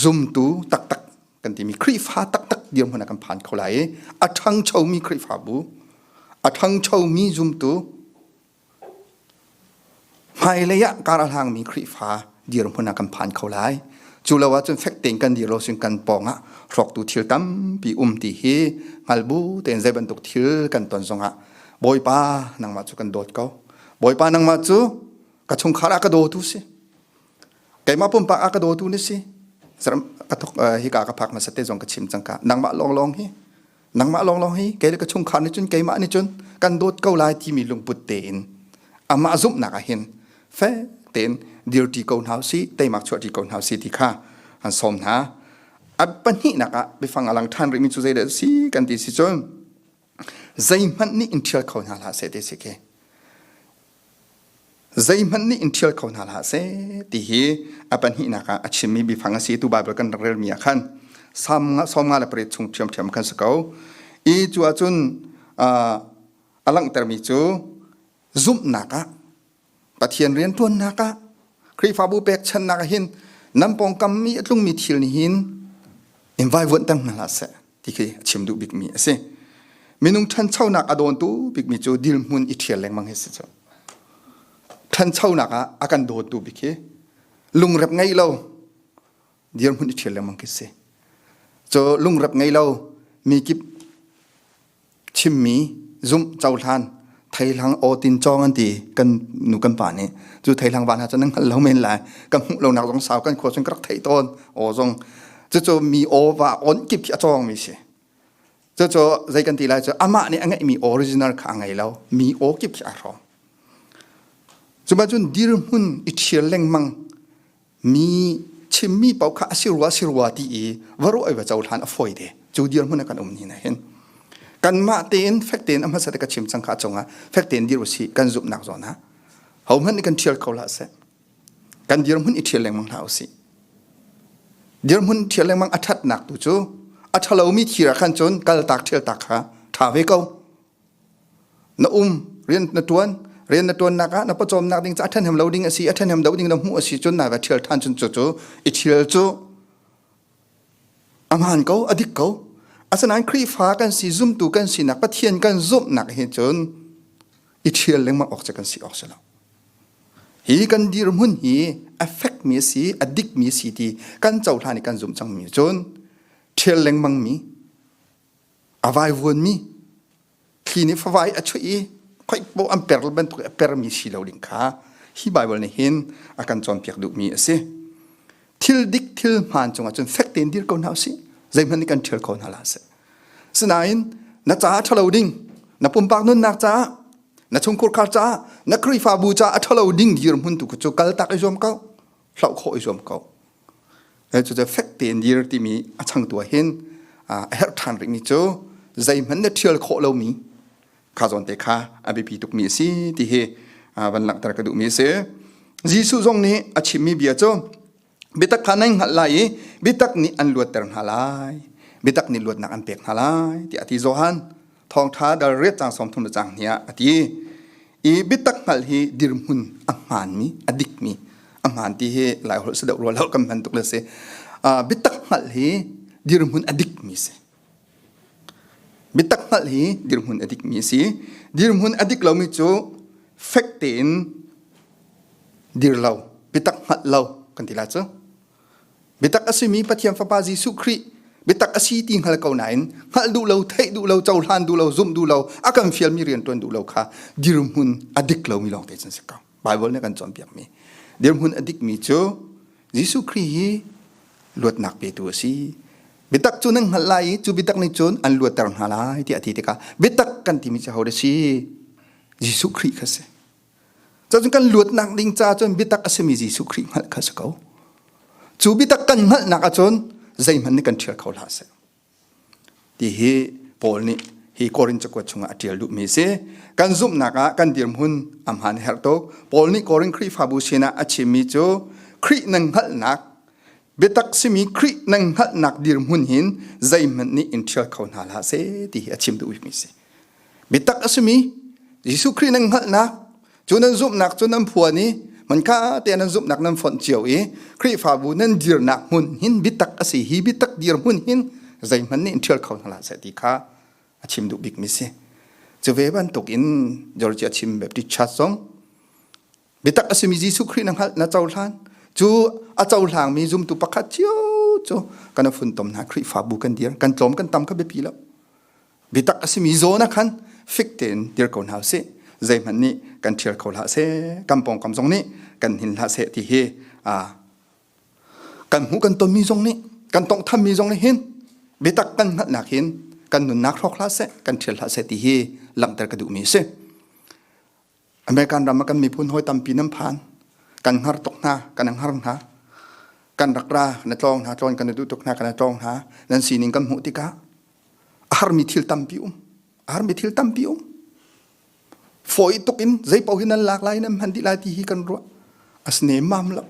zumtu taktak kan timi Khrihfa taktak dirhmun ah kan phan kho lai i a ṭhangchomi Khrihfabu a ṭhangchomi zumtu hmailei ah kar a hlangmi Khrihfa dirhmun ah kan phan kho lai cu lo ahcun fek tein kan dir lo sin kan pawng ah hrawktu thil tampi um ti hi hngal bu tein zei bantuk thil kan ton zongah Bawipa nangmah cu kan dawt ko Bawipa nangmah cu ka chungkhar ah ka dawtu si keimah pumpak a ka dawtu na si saram ka thok hika ka phak hmasa te zong ka chim cangka nangmah lawnglawng hi nangmah lawnglawng hi kei ka chungkhar nih cun keimah nih cun kan dawt ko lai timi lungput tein amah zumhnak ah hin fe tein dirti ko hna si teimak chuahti ko hna si ti kha han som hna a pahnihnak ah biafang a lang ṭhan rihmi cu zei dah si kan ti si cun zeihmanh nih in ṭhial kho hna hlah seh ti si khi zeihmanh nih in ṭhial kho hna hlah seh ti hi a pahnihnak ah a chimmi biafang a si tu Bible kan rak relmi ah khan Salm nga sawm nga le pariat chung ṭhiamṭhiam khan si ko i cu ah cun a langhtermi cu zumhnak ah Pathian rianṭuannak ah Khrihfabu pekchanhnak ah hin nan pawngkammi a tlungmi thil nih hin in vaivuanh tang hna hlah seh ti khi a chim duh bikmi a si. Minung ṭhanchonak a dawntu bikmi cu dirhmun i ṭhial lengmang hi si cu. Ṭhanchonak ah a kan dawtu bik hi lungrep ngei lo dirhmun i ṭhial lengmang khi si. Cu lungrep ngei lo mi kip Chimmi zumh cohlan theihlang aw tin cawng an ti kan nu kan pa nih cu theihlang van ha cun an hngal lo men lai kan hmuh lo nak zong sau kan khua sun ka rak theih tawn aw zong cucu mi aw va on kip khi a cawng mi si cucu zei kan ti lai cu amah nih a ngeih mi original kha a ngei lo mi aw kip khi a hrawm cuba cun dirhmun i ṭhial lengmang mi chimmi pau kha a si rua si rua ti i va ruah i va cohlan a fawi te cu dirhmun kan um ni na hin kan mah tein fek tein amha sate ka chim cang kha chungah fek tein dir usi kan zumnak zawn ha ho hman ni kan thial ko la se kan dirhmun i thial lengmang hna usi dirhmun thial lengmang athat nak tu cu a thalomi thira khan chun kal tak thial tak kha tha ve ko na um rian na tuan rian na tuannak ah na pawcawmnak ding cu a ṭhenem lo ding a si a ṭhenem lo ding na hmuh a si cun na ka ṭhial ṭhan cun cu cu i ṭhial cu a hmaan ko a dik ko asinain Khrihfa kan si zumtu kan sinak Pathian kan zumhnak hi cun i ṭhial lengmang awk cu kan si awk si lo hi kan dirhmun hi affect mi si a dik mi si ti kan cohlan i kan zumh cangmi cun ṭhial lengmang mi a vaivuanmi thli nih favai a chuih i khoikpaw an per bantuk i a permi si lo ding kha hi Baibal nih hin a kan cawnpiak duhmi a si. Thil dik thil hmaan cungah cun fek tein dir ko hna u sih. Zeihmanh nih kan ṭhial kho hna la a si. Sinain na caah ṭhalo ding, na pumpak nunnak caah, na chungkhur khar caah, na Khrihfabu caah a ṭhalo ding dirhmun tu cu kal tak i zuam ko. hloh khawh i zuam ko. Cucu fek tein dir timi a changtu ah hin a herh ṭhan rikmi cu zeihmanh na ṭhial khawh lomi kha zawn te kha a biapi tukmi a si ti hi van langhter ka duhmi a si. Jesuh zong nih a chimmi bia cu biatak kha nan hngalh lai i biatak nih an luatter hna lai. Biatak nih luatnak an pek hna lai tiah a ti Johan. thawngtha dal riat cang som thum cang hnia ati i bitak ngal hi dirhmun a hman mi a dik mi a hman ti hi lai hol se deuh rual hol kan man tuk le si bitak ngal hi dirhmun a dik mi si bitak ngal hi dirhmun a dik mi si dirhmun a dik lomi cu fek tein dir lo bitak ngal lo kan ti la cu bitak a simi Pathian Fapa Jesuh Khrih bitak a si ti hngal ko nain hngalh duh lo theih duh lo cohlan duh lo zumh duh lo a kan fialmi rian ṭuan duh lo kha dirhmun a dik lomi lawng te cun si ko Bible nih a kan cawnpiakmi dirhmun a dikmi cu Jesuh Khrih hi luatnak petu a si bitak cu nan hngalh lai i cu bitak nih cun an luatter hna lai tiah a ti tikah bitak kan timi cu hodah si Jesuh Khrih kha si Cun kan luatnak ding ca cun biatak a simi Jesuh Khrih hngalh kha si ko. Cu biatak kan hngalhnak ahcun zeihmanh nih kan ṭhial kho hlah seh. Ti hi Paul nih hi Korin cakuat chungah a ṭial duhmi si. Kan zumhnak ah kan dirhmun a hmaan a herh tuk. Paul nih Korin Khrihfabu sinah a chimmi cu Khrih nan hngalhnak biatak simi Khrih nan hngalhnak dirhmun hin zeihmanh nih in ṭhial kho hna hlah seh ti hi a chim duhmi si. Bitak a simi Jesuh Khrih nan hngalhnak cu nan zumhnak cu nan phuan i manka te nan zumhnak nan fonh cio i Khrihfabu nan dirnak hmun hin bitak a si hi bitak dirhmun hin zeihmanh nih ṭhial kho hna hlah seh ti kha a chim duh bikmi si. Cu ve bantuk in Georgia Chin Baptist Church zong bitak a simi Jesuh Khrih na hngalh na cohlan cu a cohlangmi zumtu pakhat cio cu kan funtom hna Khrihfabu kan dir kan tlawm kan tam kha biapi lo bitak a simi zawn ah khan fik tein dir ko hna sih zeihmanh nih kan ṭhial kho hlah seh kan pawngkam zong nih kan hin hlah seh ti hi kan hmuh kan tonmi zong nih kan tawnghthammi zong nih hin bitak kan hngalhnak hin kan nunnak hrawk hlah seh kan ṭhial hlah seh ti hi langhter ka duhmi a si American ram ah kan miphun hoi tampi nan phan. Kan hngar tuk hna, kan hngar hna. Kan rak ra, na tlawng hna, tlawng kan duh tuk hna, kan tlawng hna. Nan sining kan hmuh tikah a har mi thil tampi um. A har mi thil tampi um. Foi tuk in zeipaoh hi nan lak lai, nan hman dih lai ti hi kan ruah. Asne mam lo.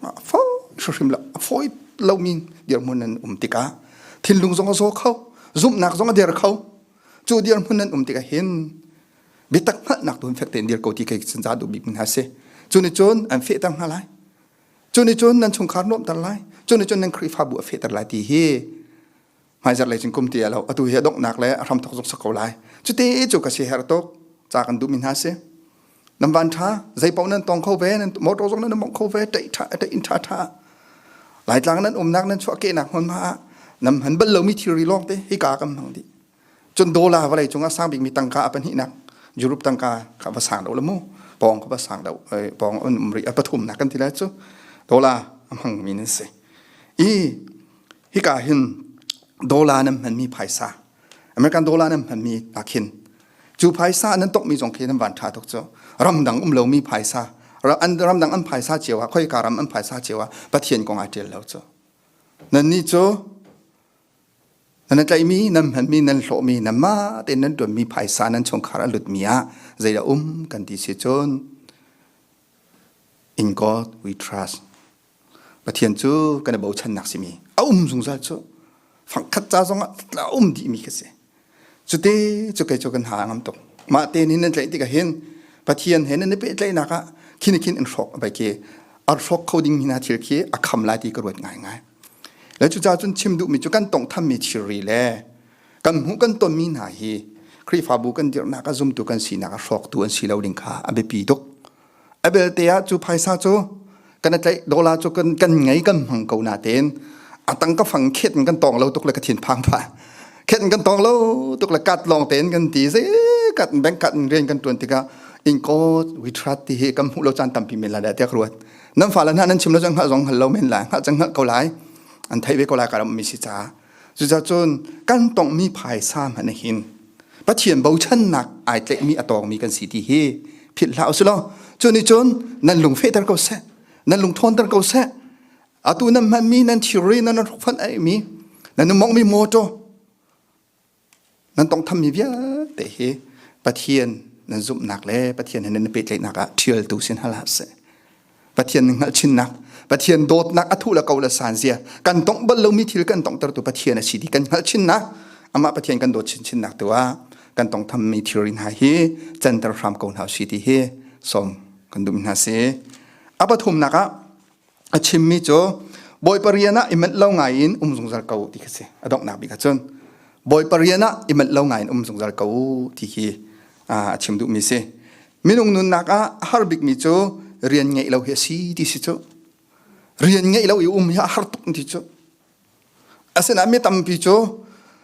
A fo hrim lo. A foi lo mi dirhmun nan um tikah thinlung zong a zaw kho. Zumhnak zong a der kho. Cu dirhmun nan um tikah hin bitak hngalhnak tu fek tein dir ko ti ke sin za duh bik min ha si cu ni cun an fe ter hna lai cu ni cun nan chungkhar nuam ter lai cu ni cun nan khrifa bu a fe ter lai ti hi hmaizar lei cin kum ti alo atu hi doknak le ahram thok zuk sako lai cu te cu ka si her tok cha kan du min ha si nam van tha zai pau nan tong kho ve nan motor zong nan mong kho ve tai tha tai in tha tha lai tlang nan umnak nan chua ke nak hon ma nam han bal lo mi thiri long te hi ka kam hang di cun dollar vawlei cungah sang bikmi tangka a pahnihnak Europe tangka kha va sang lo la mu pawng kha va sang lo pawng um ri a pathumnak kan ti lai cu dollar a hmangmi nan si i hika hin dollar nan hmanmi phaisa American dollar nan hmanmi ahkhin cu phaisa nan tokmi zong khi nan van tha tuk cu ramdang um lomi phaisa ramdang an phaisa cio ah khoika ram an phaisa cio ah pathian kong ai tial lo cu nannih cu Nan i tlaihmi, nan hmanmi, nan hlawhmi, nan mah tein nan ṭuanmi phaisa nan chungkhar a lutmi ah zeidah um kan ti si cun in God we trust. Pathian cu kan i bochannak simi a um zungzal cu fangkhat ca zongah a um dihmi ka si. Cuti cu kei cu kan ha ngam tuk. Mah te nih nan tlaih tikah hin Pathian he nan i pehtlaihnak ah khin khin in hrawk a bai ke ar hrawk kho ding mi hna thil khi a kham lai ti ka ruat ngaingai. Le cucaah cun chim duhmi cu kan tawnghthammi thilri le kan hmuh kan tonmi hna hi Khrihfabu kan dirhnak ah zumtu kan sinak ah hrawktu an si lo ding kha a biapi tuk. A belte ah cu phaisa cu kan i tlaih dola cu kan kan ngei kan hmang ko na tein a tang ka fang khet in kan tong lo tuk le ka thin phang pha khet in kan tong lo tuk le kat lawng tein kan ti ze kat in bank kat in rian kan tuan tikah in kot we trust ti hi kan hmuh lo caan tampi men la da tiak ruat nan fa la na nan chim lo chang hal zong hal lo men la hal chang hal ko lai an thei ve ko lai ka ram mi si cha Cucacun kan tongmi phaisa hmanh hin Pathian bochannak ai tlekmi a tawngmi kan si ti hi philh hlah u law cu ni cun nan lung fehter ko seh nan lung thawnter ko seh atu nan hmanmi nan thilri nan hrukfanh aimi nan mongmi mawtaw Nan tongthammi vialte hi Pathian nan zumhnak le Pathian he nan pehtlaihnak ah ṭhialtu si hna hlah seh. Pathian nan hngalhchinnak, Pathian dawtnak a thuh le ko le san zia, kan tong bal lomi thil kan tongtertu Pathian a si ti kan hngalhchinnak, amah Pathian kan dawt chinchinnak tu ah kan tongthammi thilri hna hi canter hram ko hna u si ti hi sawm kan duhmi hna si. A pathumnak ah a chimmi cu bawi parian ah i manh lo ngai in um zungzal ko ti khi si a donghnak bik ah cun bawi parian ah i manh lo ngai in um zungzal ko ti khi a chim duhmi si minung nunnak ah a har bikmi cu rian ngeih lo hi a si ti si cu rian ngeih lo i um hi a har tuk ti cu Asinain mi tampi cu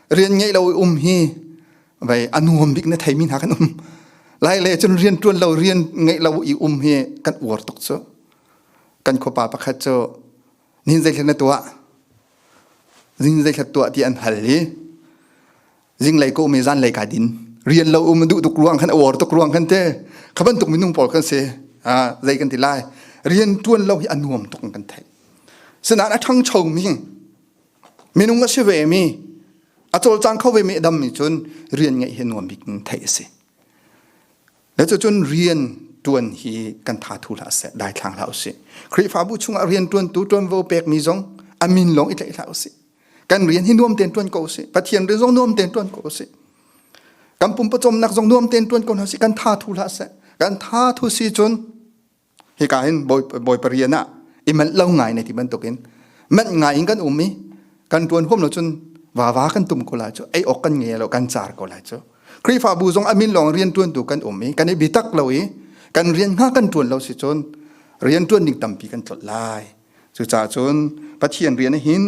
rian ngeih lo i um hi vei a nuam bik na theimi hna kan um. Lai le cun rian ṭuan lo, rian ngeih lo i um hi kan uar tuk cu. Kan khuapa pakhat cu nihin zeithlet na tuah? Nihin zeithlet tuah ti an hal i zinglei ko me zan lei ka din rian lo um du tuk ruang khan awar tuk ruang khan te khaban tuk minung pol kan se a zai kan ti lai rian tuan lo hi anuam tuk kan thai sinan athang chong mi minung asi ve mi atol chang kho ve mi dam mi chun rian ngai hi nuam bik thai si Nacucun rian tuan hi kan tha thu hlah seh dai thlang hlah usih. Khrihfabu chungah rian tuantu tuanvo pekmi zong amin lawng i tlaih hlah usih. Kan rian hi nuam ten tuan ko usih. Pathian rian zong nuam ten tuan ko usih. Kan pum pawcawmnak zong nuam ten tuan ko hlah usih. Kan tha thu hlah seh. Kan tha thu si cun hika hin bawi pari an ah i manh lo ngai ne ti bantukin manh ngai in kan um i kan tuan huam lo cun wawa kan tum ko lai cu ei ok kan nge lo kan car ko lai cu krifabu zong amin lawng rian tuan tu kan um i kan i bitak lo i kan rian nga kan tuan lo si cun rian tuan ding tampi kan tlot lai cucaah cun pathian rian hin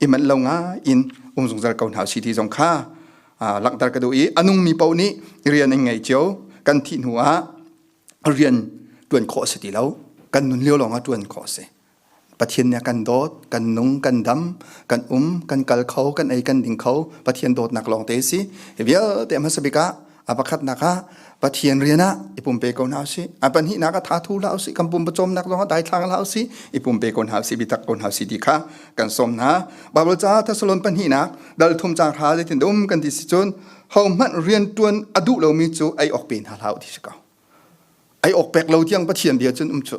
i manh lo nga in um zungzal ko hna si ti zong kha langhter ka duh i anung mi po nih rian in ngei cio kan thih hnu ah rian tuan khawh si ti lo kan nun lio lawng ah tuan khawh si pathian nih kan dawt kan nung kan dam kan um kan kal kho kan ei kan ding kho pathian dawtnak lawng te si vialte hmasabik ah apakhatnak ah pathian rian ah i pumpe ko hna si apan hi nak a tha thu la si kan pum pachom nak zong dai thlang la si i pumpe ko hna si bitak ko hna si ti kha kan som hna bible ca thessalon pan hi nak dal thum chang ra le tin dum kan ti si chun hohmanh riantuan a duh lomi cu ei awk pe hna hlah u ti si ko ei awk pek lo tiang pathian bia cun um cu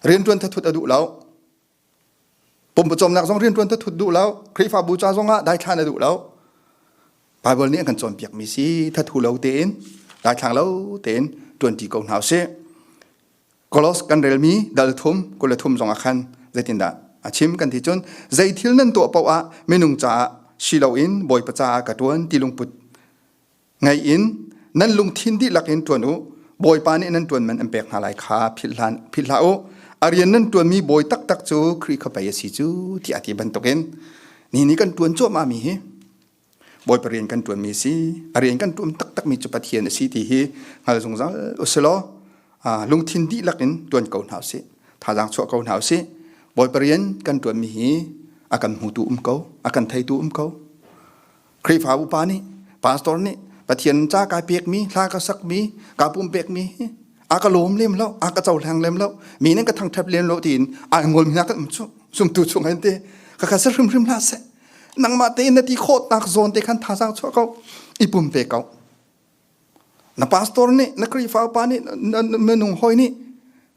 riantuan thathut a duh lo pumpacawmnak zong riantuan thathut duh lo khrihfabu ca zong ah daithlan a duh lo bible nih an kan cawnpiak mi si thathu lo tein daithlang lo tein tuanti ko hna usih Kolos kan relmi dal thum kul le thum zong ah khan zeitindah a chim kan ti cun zei thil nan tuah paoh ah minung caah si loin bawipa caah ka ṭuan ti lungput ngei in nan lungthin dihlak in ṭuan u bawipa nih nan ṭuan man an pek hna lai kha philh hlan philh hlah u a rian nan ṭuanmi bawi taktak cu Khrih kha pei a si cu tiah a ti bantukin ni ni kan ṭuan cuahmahmi hi Bawipa rian kan ṭuanmi si. A rian kan ṭuan taktakmi cu Pathian a si ti hi hngal zungzal usilaw lungthin dihlak in ṭuan ko hna usih. Thazaang chuah ko hna usih. Bawipa rian kan ṭuanmi hi a kan hmutu um ko, a kan theitu um ko. Khrihfa upa nih, pastor nih Pathian ca ka pekmi, hla ka sakmi, ka pumpekmi hi a ka lawm lem lo, a ka cohleng lem lo, mi nan ka thangṭhat lem lo tiin a ngolmi hna kan um cu. Zumtu chung an te, ka kha sa hrimhrim hlah seh. nangmah tein na ti khawhnak zawn te khan thazang chuah ko i pum ve ko na pastor nih na khrihfa upa nih na nung hoi nih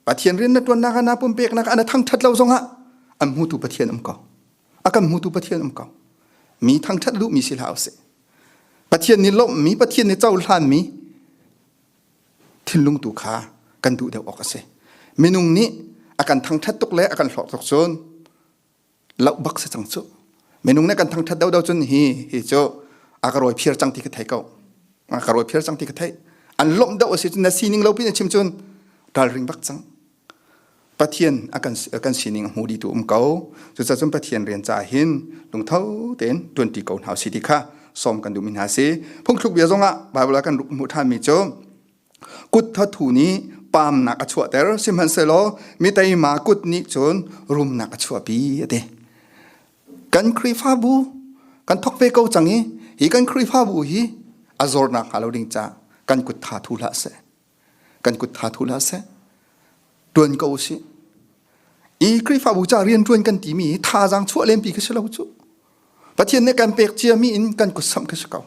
pathian rian na tuannak ana pumpeknak ana thangthat lo zongah an hmutu pathian um ko a kan hmutu pathian um ko mi thangthat lu mi si hlau se pathian ni lawm mi pathian ni cohlan mi thinlung tu kha kan duh deuh awk a si minung nih a kan thangthat tuk le a kan hlawk tuk cun lau bak se chang chu minung ne kan thangthat deu deu chun hi hi chu akaroi phiar chang ti ka thei ko akaroi phiar chang ti ka thei an lom deu si na sining lo pin chim chun dal ring bak chang pathian akan kan sining hu di tu um ko chu cha chun pathian rian cha hin lungtho ten 20 ko hnaw si ti kha som kan du min ha si phung thluk bia zonga bible kan ruk mu than mi chu kut thathu nih paamnak a chuahter sihmanhsehlaw miteima kut nih cun rumnak a chuahpi a ti kan khrihfabu kan thok ve ko cang i hi kan khrihfabu hi a zor nak hnga lo ding ca kan kut tha thu hlah seh kan kut tha thu hlah seh tuan ko si i khrihfabu ca rian tuan kan timi hi thazang chuah lempi ka si lo cu Pathian nih kan pek cia mi in kan kut samh khi si ko.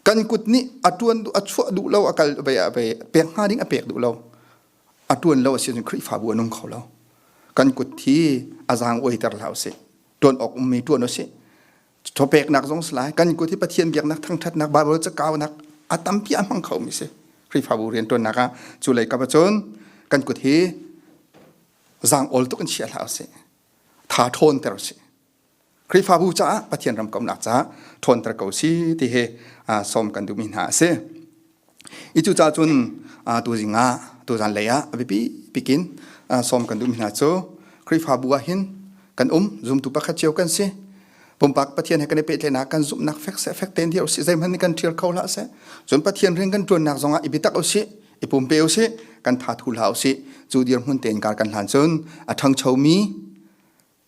Kan kut nih a tuan a chuah duh lo a kal ve a ve pek hnga ding a pek duh lo. A tuan lo a si Khrihfabu a nung kho lo. Kan kut hi a zang oi ter hlau si. Tuan ok um mi tuan o si. Thopek nak zong slai kan kut hi Pathian biak nak thangthat nak Bible ca kau nak a tampi a hmang kho mi si. Khrihfabu rian tuan nak a cu lei ka cun kan kut hi zang ol tuk in chia hlau si. Tha thawn ter si. Khrihfabu caah Pathian ramkomhnak caah ṭhawnter ko si ti hi sawm kan duhmi hna a si. I cucaah cun tuzing ah tuzan lei ah a biapi bik in sawm kan duhmi hna cu Khrihfabu ah hin kan um zumtu pakhat cio kan si. Pumpak Pathian he kan i pehtlaihnak kan zumhnak fek se fek tein dir usih. Zeihmanh nih kan ṭhial kho hlah seh. Cun Pathian rian kan ṭuannak zongah i bitak usih, i pumpe usih, kan thathu hlah usih. Cu dirhmun tein kar kan hlan cun a ṭhangchomi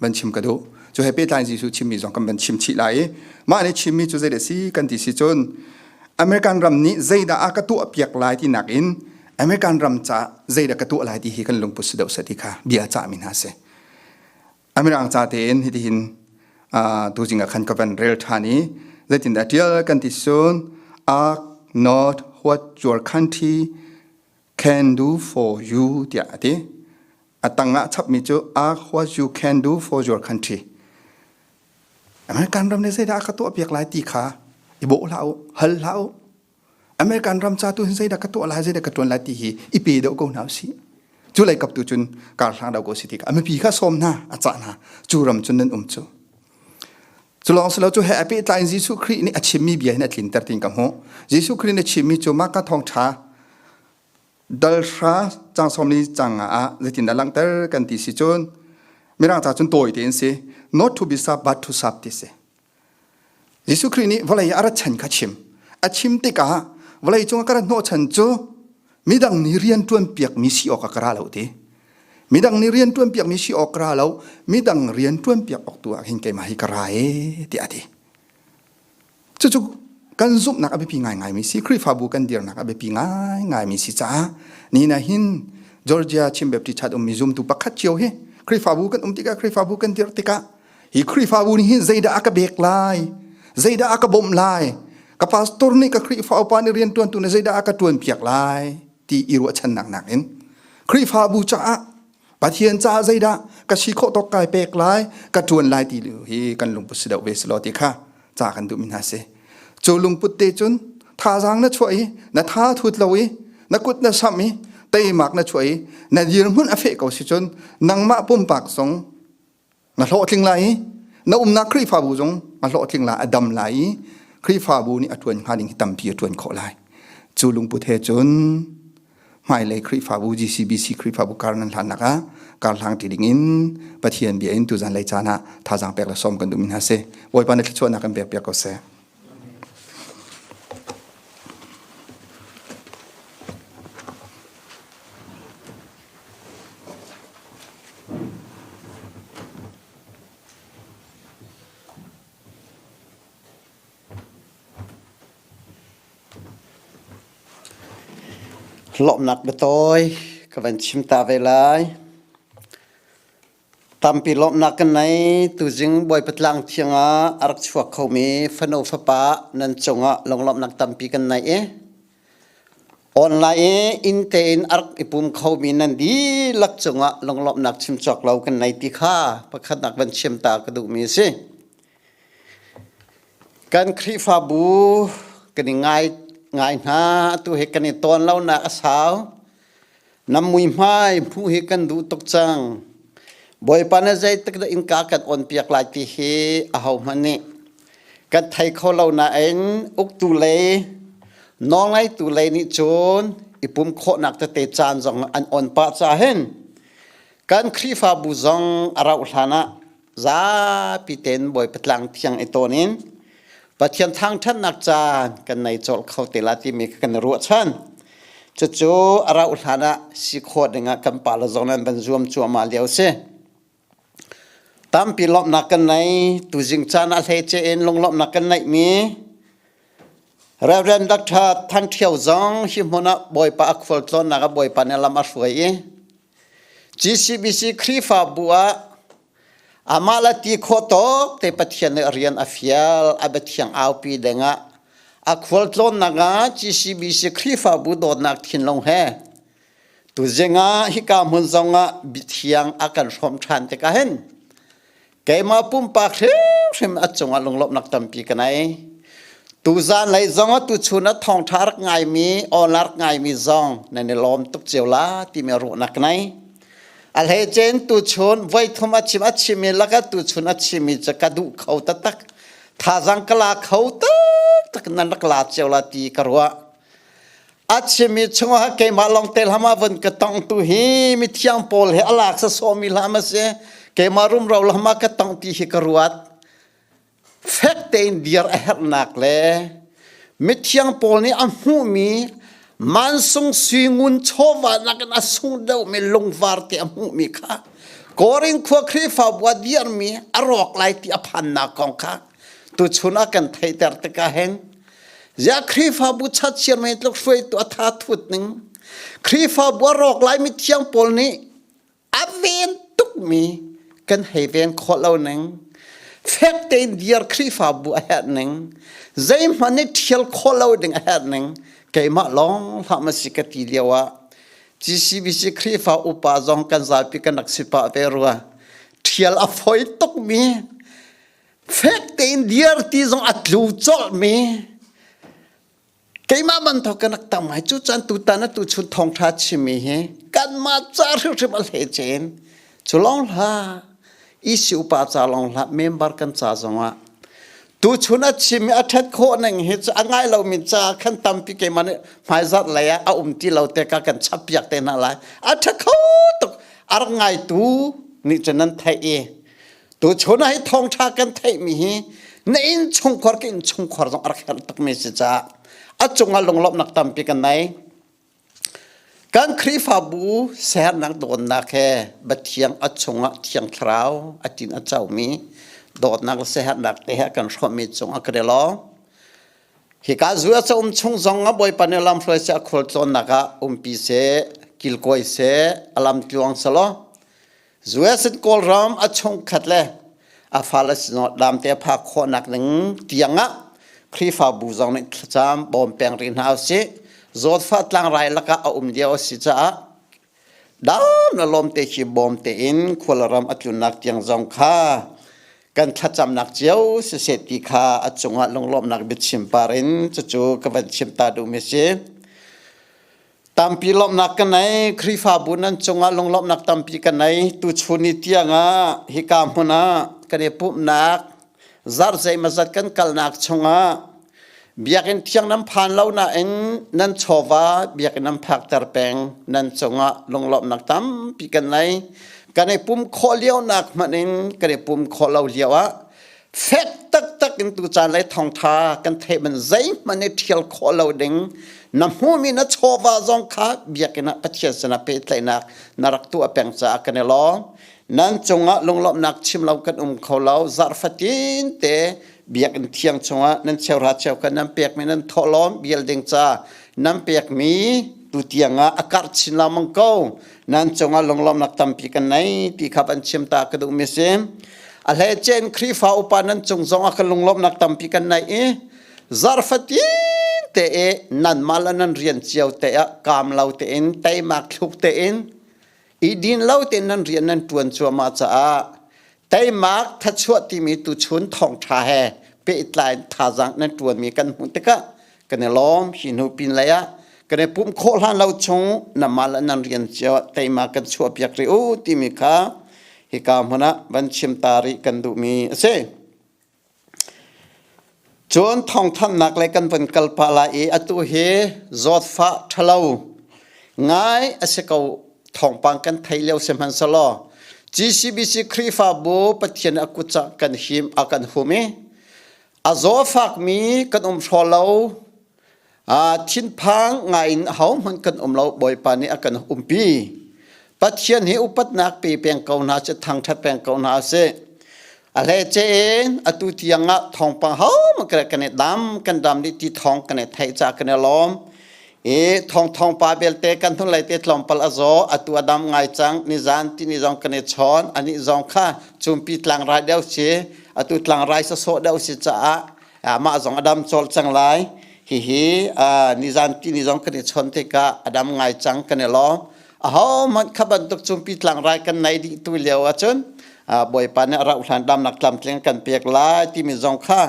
van chim ka duh cu he pehtlai Jesuh chimmi zong kan van chim chih lai i mah nih chimmi cu zei si kan ti si cun American ram nih zeidah a ka tuah piak lai ti nak in American ram ca zeidah ka tuah lai ti hi kan lungput si deuh sa ti kha bia cah mi hna si American ca tein hitihin tu jing ah khan ka van rel than i zeitin dah tial kan ti sun ask not what your country Can do for you tiah a ti. A tang ah chapmi cu Ask what you can do for your country. American ram nih zeidah a ka tuah piak lai ti kha i bawh hlah u, hal hlah u. American ram ca tu hin zeidah ka tuah lai, zeidah ka tuan lai ti hi i pe deuh ko hna u si. Cu lei kap tu cun kar hlang dau ko si ti kha. A mipi kha sawm hna, a cah hna. Cu ram cun nan um cu. Culong silo cu he api tlai Jesuh Khrih nih a chimmi bia hin a tlinter tin ka hmuh. Jesuh Khrih nih chimmi cu mah ka thong tha dal hra cang somni cang ah zeitin dah langhter kan ti si cun mirang ca cun tawi te in si not to be sub but to sub ti si Jesuh Khrih nih vawlei a rat chan kha chim a chim tikah vawlei cung a ka rat hnawh chan cu midang nih rian ṭuan piakmi si awk a ka ra lo ti midang nih rian ṭuan piakmi si awk ka ra lo midang rian ṭuan piak awk tu ah hin keimah hi ka ra e tiah a ti cucu kan zumhnak a biapi ngaingaimi si Khrihfabu kan dirnak a biapi ngaingaimi si caah ni na hin Georgia Chin Baptist Church ummi zumtu pakhat cio hi Khrihfabu kan um tikah Khrihfabu kan dir tikah hi khrifabu nih hin zeidah a ka bek lai zeidah a ka bawmh lai ka pastor nih ka khrifa upa nih riantuantu nih zeidah a ka tuan piak lai ti i ruahchannak nakin khrifabu caah pathian caah zeidah ka si khawh tawk kai pek lai ka tuan lai ti lu hi kan lungput si deuh ve si lo ti kha ca kan duh mi hna si cu lungput te cun thazaang na chuah i na tha thut lo i na kut na sam i teimak na chuah i na dirhmun a feh ko si cun nangmah pumpak zong na hlawhtling lai i na umnak Khrihfabu zong na hlawhtling lai a dam lai i Khrihfabu nih a ṭuan hnga ding hi tampi a ṭuan khawh lai cu lungput he cun hmailei Khrihfabu GCBC Khrihfabu kar nan hlannak ah karhlang ti ding in Pathian bia in tuzan lei caan ah thazaang pek le sawm kan duhmi hna si Bawipa na thluachuahnak in pek piak ko seh Lawmhnak biatawi ka van chim ta ve lai. Tampi lawmhnak kan nei. Tuzing Bawipa Tlang Thiang ah a rak chuak khomi fanu fapa nan cungah lunglawmhnak tampi kan nei i online i inn tein a rak i pum khomi nan dihlak cungah lunglawmhnak chim cawk lo kan nei ti kha pakhatnak van chiam ta ka duhmi a si. Kan Khrihfabu kan i ngai ngai hna. Atu he kan i tawn lonak a sau. Nam muihmai phu hi kan duh tuk cang. Bawipa nih zeitik dah innka kan on piak lai ti hi aho hmanh nih kan thei kho lo nain uktu lei nawlngeitu lei nih cun i pum khawhnak tete caan zong an on pah caah hin kan Khrihfabu zong a rauh hlan ah zapi ten Bawipa tlang thiang i tawn in Pathian thangthatnak caan kan nei col kho te la timi kan ruah chan cucu arau hlan ah si kho ding ah kan pa la zong nan ban zuam cuama lio si tampi lomnak kan nei tu jing caan ah hlei che in lunglomnak kan nei mi Reverend Dr. Thang Thiau zong hi hmun ah Bawipa a khual tlawnnak a Bawipa ne lam a hruai i GCBC Khrihfabu ah amah le ti khawh tawk te Pathian nih rian a fial a biathiang aupi dingah a khualtlawnnak ah GCBC Khrihfabu dawtnak thinlung he tuzing ah hika hmun zongah biathiang a kan hrawm ṭhan tikah hin keimah pumpak hrimhrim a cungah lunglawmhnak tampi ka nei tu zan lei zong ah tu chun a thongtha rak ngaimi awla rak ngaimi zong nan i lawm tuk cio la timi ruahnak nei a hlei chen tu chun voi thum a chim a chimmi laka tu chun a chimmi cu ka duh kho taktak thazang ka la kho taktak nan rak la cio la ti ka ruah a chim i chungah keimah longte lam ah vun ka tong tu hi mi thiang pawl he alak sa sawmi lam a si keimah rumro lam ah ka tong ti hi ka ruat fek tein dir a herhnak le mithiang pawl nih a hmuhmi mansung suingun chawva nakin a sung deuhmi lungvar te a hmuhmi kha korin khua khrifa bua dirmi a rawk lai ti a phannak kong kha tu chun ah kan theiter tikah heng ya khrifabu chat siar me tluk hruai tu atha thut ning khrifabu rok lai mi thiang paul ni aven tuk mi kan hei ven kho lo ning fek tein diar khrifabu a het ning zei man ni thial kho lo ding a het ning keimah long hla ma si ka ti liawa GCBC khrifa upa zong kan zalpi kan rak sipa ve rua thial a foi tuk mi fek tein dir ti zong a tlu colh mi keimah banthok kan rak tam ngai cu chan tu tan a tu chun thong tha chimi hi kan ma cha hrim hrim a le chen chu long hla isi upa cha long hla member kan cha zong ah tu chun a chimi a that kho nang hi chu a ngai lo mi cha khan tampi keimah hmai zat lei a um ti lo te ka kan chapiak te na lai a tha kho tuk ar ngai tu ni chen nan thai i Tuchun ah hi thawngtha kan theihmi hi na inn chungkhar ka inn chungkhar zong a rak herh takmi si caah a cungah lunglawmhnak tampi kan nei. Kan Khrihfabu sernak dawtnak he Pathian a chungah Thiang Thlarau a tin a caumi dawtnak le siaherhnak te he kan hrawmmi cungah ka rel lawng. Hi ka zu a um chung zong a bawipa nih lam hruai se a khual tlawnnak ah umpi se kilkoi se a lam tluang selaw US in Kawlram a chungkhat le a fal a sinawt dam te pha khawhnak ning tiang ah Khrihfabu zong nih thlacam bawm peng rih hna usih Zawtfa tlangrai lakah a um lio a si caah dam la lawm te khi bawm te in khuala ram a tlunnak tiang zong kha kan thlacamnak cio si se ti kha a cungah lunglawmnak biachim par in cucu ka van chim ta duh mi si tampi lawmhnak ka nei Khrihfabu nan cungah lunglawmhnak tampi ka nei tuchun ni tiangah hika hmun ah kan i pumhnak zarh zeimazat kan kalnak chungah biakinn thiang nan phan lo nain nan chawva biakinn nan phakter peng nan cungah lunglawmhnak tampi kan nei kan i pum khawh lionak hmanh in kan i pum khawh lo lio ah fek taktak in tu caan lei thawngtha kan theih man zeihmanh i ṭhial khawh lo ding na hmumi na chawva zong kha biakinn ah pathian sinah pehtlaihnak na rak tuah peng caah kan i lawm nan cungah lunglawmhnak chim lo kan um kho lo zarfatin te biakinn thiang chungah nan cheuhra cheu kan nan pekmi nan thawhlawm bial ding ca nan pekmi tu tiangah a karh chin lamang ko nan cungah lunglawmnak tampi kan nei ti kha an chim ta ka duhmi a si a hle cen Khrihfa upa nan cung zongah kan lunglawmnak tampi kan nei i zarfatin te e nan mal nan rian cio te ah kam lo te in teimak thluk te in i din lo te nan rian nan tuan cuama caah Teimak thachuah timi tuchun thawngtha he pehtlai thazaang nan tuanmi kan hmuh tikah kan i lawm hi hnu pin lei ah kan i pumh khawh hlan lo chung na mal nan rian cio teima kan chuah piak rih u timi kha hika hmun ah van chim ta rih kan duhmi a si. Cun thawngthanhnak lei kan van kal pah lai i atu hi zawtfah ṭhalo ngai a si ko thawngpang kan thei lio sihmanhsehlaw GCBC Khrihfabu Pathian a kut ah kan him a kan hum i a zaw fakmi kan um hraw lo thinphang ngaiin ahohmanh kan um lo bawipa nih a kan umpi pathian hi upatnak pe peng ko hna sih thangṭhat peng ko hna sih a hlece in atu tiang ah thawngpang hohmanh kan kan i dam kan dam dih ti thawng kan i theih ca kan i lawm i thong thong pa belte kan hnulei te tlawmpal a zaw atu a dam ngai cang nizan ti ni zong kan i chawn ani zong kha cumpi tlang rai deuh si atu tlang rai sasawh deuh si caah mah zong a dam cawlh cang lai hihi nizan tini zong kan i chon tikah a dam ngai cang kan i lawm a hohmanh kha bantuk cu pitlang rai kan nei dih tu lio ahcun bawipa nih rauh hlan damnak tlamtling kan pek lai timi zong kha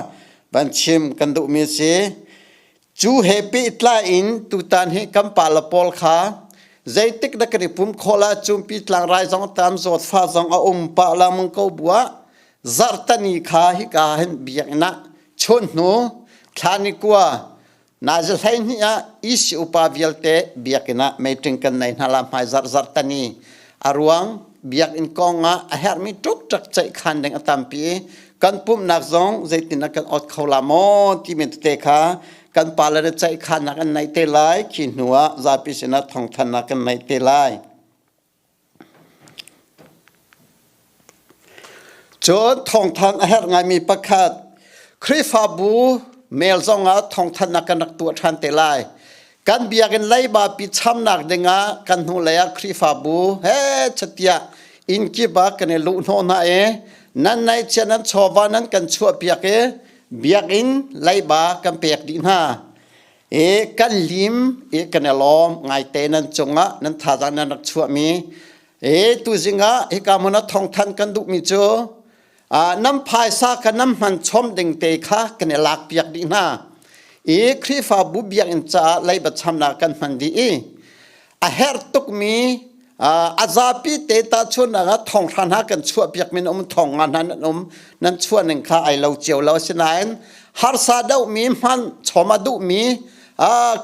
van chim kan duhmi si Cu he pehtlai in tutan hi kan pale pawl kha zeitik na kan i pum khawh la cumpi tlang rai zong tam zawtfa zong a um pah lengmang ko bua zarhtani kha hika hin biakinn ah chun hnu thlani kua na za hlei hnih ah isi upa vialte biakinn ah meitring kan nei hna la hmai zarh zarhtani A ruang biakinn kong ah a herhmi ṭukṭak ceihkhan ding a tampi i kan pumhnak zong zeitin ah kan awt kho la maw ti men tete kha kan pale le ceihkhannak an neih te lai khi hnu ah zapi sinah thawngthannak kan neih te lai. Cun thawngthang a herh ngaimi pakhat Khrihfabu mail zongah thawngthanhnak kan rak tuah ṭhan te lai. Kan biakinn leibapi chamnak dingah kan hnulei ah Khrihfabu he chatiah inn kip ah kan i luh hnawh hna i nan ngaihchia nan chawva nan kan chuahpiak i biakinn leiba kan pek dih hna. I kan lim i kan i lawm ngaite nan cungah nan thazaang nan rak chuahmi e tu zingah hika mon a thongthan kan duhmi cu nam phaisa ka nam hman chom ding te kha kan i lak piak dih hna i khrifabu biakinn caah leiba chamnak kan hman dih i a herh tukmi a zapi te ta chuannak ah thong hran ha kan chuah piak min um thong nga hna nan um nan chuah ning kha ai lo cio lo asinain harsa dohmi hman choma duhmi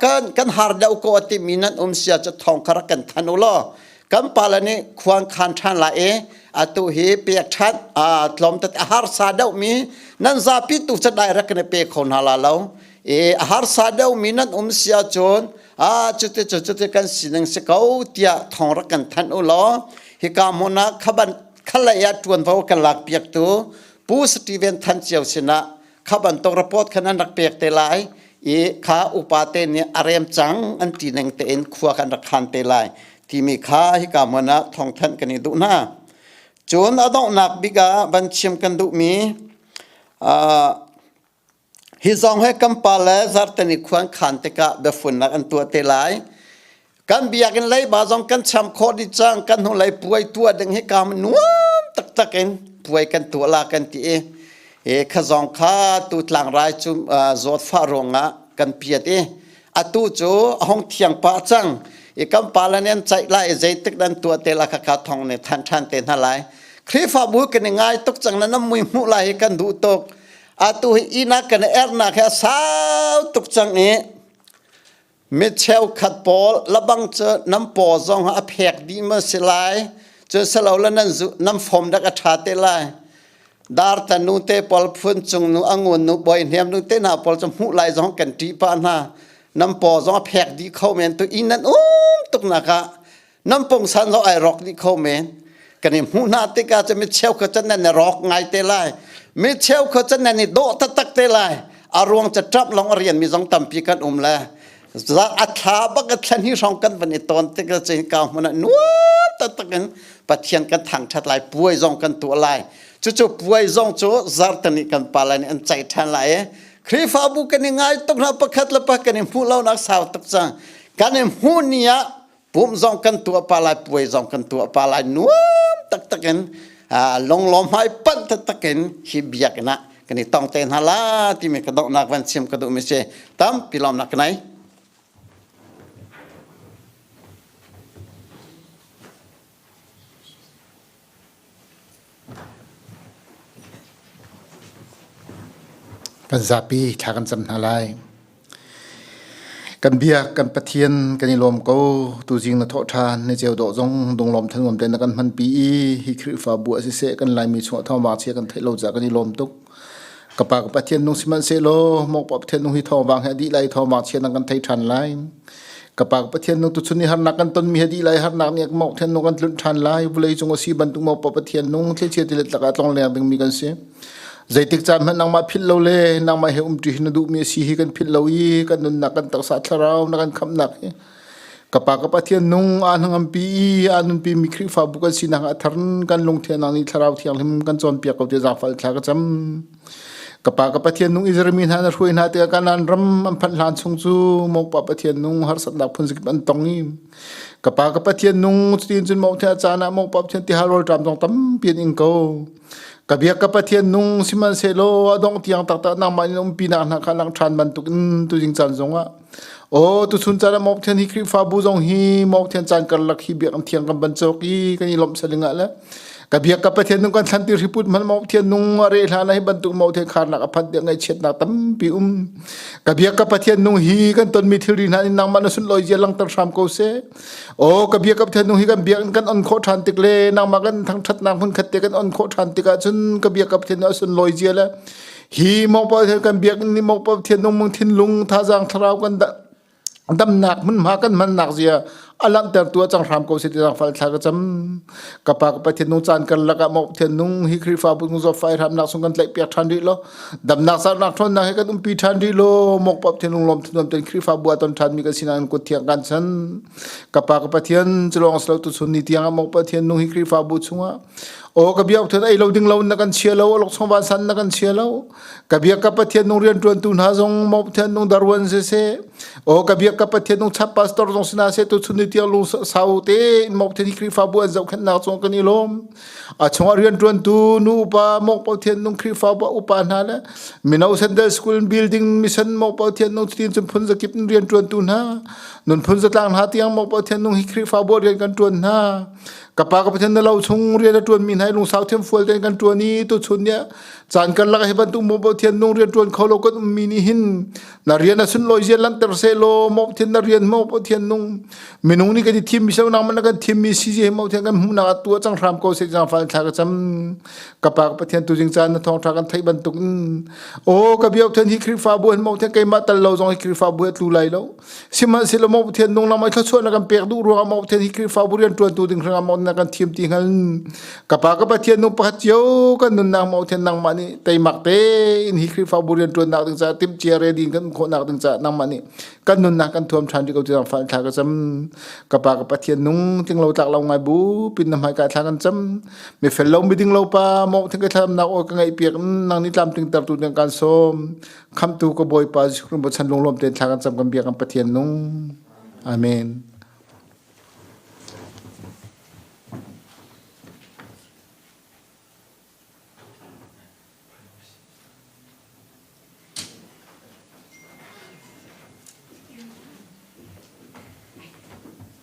kan kan har deuh ko timi nan um sia cha thong khara kan than u law kan pale nih khuang khan ṭhan lai i atu hi pek ṭhan tlawm tete a harsa deuhmi nan zapi tu cu direct ne pe kho hna la lo i a harsa deuhmi nan um si ahcun a cuti cu cuti kan sining si ko tiah thong rak kan thanh u law hika hmun ah khaban khalei ah ṭuanvo kan lak piaktu pu Stephen Than cio sinah kha bantuk report khan an rak pek te lai i kha upate nih a rem cang an ti ning tein khua kan rak khan te lai timi kha hika hmun ah thawngthanh kan i duh hna cun a donghnak bik ah van chim kan duhmi uh, hi zong he kampal le zartani khuan khan tikah biafunnak an tuah te lai kan biakinn leiba zong kan cham khawh dih cang kan hnulei puai tuah ding hi kam nuam taktak in puai kan tuah la kan ti i e kha zong kha tu tlangrai cu zawt fa ruangah kan piat i atu cu ahong thiang pa cang i kan pa lan an chaih lai i zeitik dan tuah te la kha kha thong ne than than te hna lai khrifabu kan i ngai tuk cang na nam mui mu lai hi kan duh tuk atu hi ina kan er na kha sau tuk cang i Mi cheukhat pawl labang cu nan paw zong a phek dih maw si lai cu silo la nan zu nan fom dak a ṭha te lai dar ta nu te pawl phun cung nu angun nu boi hniam nu te na pawl cu hmuh lai zong kan ṭih pah hna nan paw zong a phek dih kho men tu inn nan um tuk nak ah nan pong san lo ai rok ni kho men kan i hmuh hna tikah cu mi cheu kha chan nan rok ngai te lai mi cheu kha chan nan i dawh taktak te lai a ruang ca ṭap long a rian mi zong tampi kan um le a thla bak a thlen hi hrawng kan van i ton tikah cun kau hmun ah nuam taktak in pathian kan thangṭhat lai puai zong kan tuah lai cucu puai zong cu zartani kan pa lai nih an cai ṭhan lai i Khrihfabu kan i ngai tuk hna pakhat le pa kan i hmuh lonak sau tuk cang kan i hmuh ni ah pum zong kan tuah pah lai puai zong kan tuah pah lai nuam taktak in longlong hmai panh taktak in hi biakinn ah kan i tong te hna la timi ka donghnak van chim ka duhmi si tampi lawm nak nai Kan zapi thla kan cam hna lai. Kan biak kan pathian kan i lawm ko tuzing na thawh than na ceu dawh zong dunglawm than ngom te na kan hman pi i hi Khrihfabu a si se kan Laimi chungah thawngvang chia kan theih lo ca kan i lawm tuk. ka pa ka pathian nung sihmanhsehlaw mokpa pathian nung hi thawngvang he dih lai thawngvang chia nan kan thei ṭhan lai ka pa ka pathian nung tuchun i harnak kan tonmi he dih lai harnak nih mok thian nung kan tlunh ṭhan lai vulei cung a si bantuk mokpa pathian nung thlichia tilet laka tlong leng dingmi kan si zeitik caan hmanh nangmah philh lo le nangmah he umṭi na duhmi a si hi kan philh lo i kan nunnak kan taksa thlarau na kan khamhnak hi Ka pa ka Pathian nung a hnangampi i a nunpimi Khrihfabu kan sinak a thar kan lungthianang nih thlarau thianghlim kan cawnpiak ko ti zangfal thla ka cam. Ka pa ka Pathian nung Israel mi hna na hruai hna te kanan ram an phanh hlan chung cu mokpa Pathian nung har satnak phun sikip an tong i ka pa ka Pathian nung cutin cun mokthia caan ah mokpa Pathian ti halol ṭam tong tampian in ko ka biak ka Pathian nung siman selo adong tiang taktak nangmah in umpi nak hna kha lang ṭhan bantuk in tu jing caan zongah Aw, tuchun caan ah Mawnghthian hi Khrihfabu zong hi Mawnghthian caan karlak hi biak an thiang kan banchawk i kan i lawmh saling ah le ka biak ka Pathian nung kan thlan ti riput man Mawnghthian nung a re hla na hi bantuk Mawnghthian kharnak a phan tiang ngaihchiatnak tampi um ka biak ka Pathian nung hi kan ton mi thilri hna in nang man sun loi je langtar hram ko se o ka biak ka Pathian nung hi kan biak kan on kho than tik le nang ma kan thang that nak mun khatte kan on kho than tik ah cun ka biak ka Pathian nung sun loi je le hi mokpa thian kan biak ni mokpa thian nung mung thin lung thazang thlarau kan damnak hmunhma kan mannak zia alang ter tua chang hram ko siti sang fal thla ka cham ka pa ka pa thian nung chan kar laka mok thian nung hi khri fa pun zo fai ram nak sung kan tlai pek than ri lo dam nak sar nak thon na he kan um pi than ri lo mok pap thian nung lom thun lom ten khri fa bua ton than mi kan sinan ko thiang kan san ka pa ka pa thian chlong slow tu sun ni tiang mok pa thian nung hi khri fa bu chunga o ka biak thut ei lo ding lo na kan chia lo lok song van san na kan chia lo ka biak ka pathian nung rian tuan tu hna zong mo pathian nung darwan se se o ka biak ka pathian nung chap pastor zong sina se tu chun ni tiang lung sau te mo pathian hi krifa bu an zau khen na chong kan i lom a chunga rian tuan tu nu pa mo pathian nung krifa bu upa hna le minau sandal school building mission mo pathian nung tin chun phun zakip rian tuan tu hna nun phun zatlang hna tiang mo pathian nung hi krifa bu rian kan tuan hna ka pa ka pathian na lo chung rian a tuan mi hna lungsau thiam fual ten kan tuan i tu chun nia chan kan lak he ban tu mo bo thian nung rian tuan kho lo kan um mi ni hin na rian a sun loi je lan ter se lo mo thian na rian mo bo thian nung minung ni kan i thim mi se nang man kan thim mi si je mo thian kan mu na tu chang hram ko se jang fal thla ka cham ka pa ka pathian tu jing chan na thong tha kan thai ban tuk o ka biok than hi krifa bu mo thian ke ma tal lo jong hi krifa bu tlu lai lo sihmanhsehlaw maw pathian nung lam ai thluachuah na kan pek duh ruangah maw pathian hi khrihfabu rian ṭuantu ding hrangah maw na kan thiam ti hngal ka pa ka pathian nung pakhat cio kan nunnak maw pathian nangmah nih teimak tein hi khrihfabu rian ṭuannak ding caah timh cia re din kan khawhnak ding caah nangmah nih kan nunnak kan thuam ṭhan ṭi ko tiang fa thla ka cham ka pa ka pathian nung ting lo tlak lo ngai bu pin na hmai ka thla kan cham mi fel lo mi ding lo pa maw thing ka thlamnak o ka ngai piak nang ni tlam ting tertu ding kan som Khamtu ka Bawipa Jesuh chan lunglawm te thla kan cam kan bia kan Pathian nung. Amen.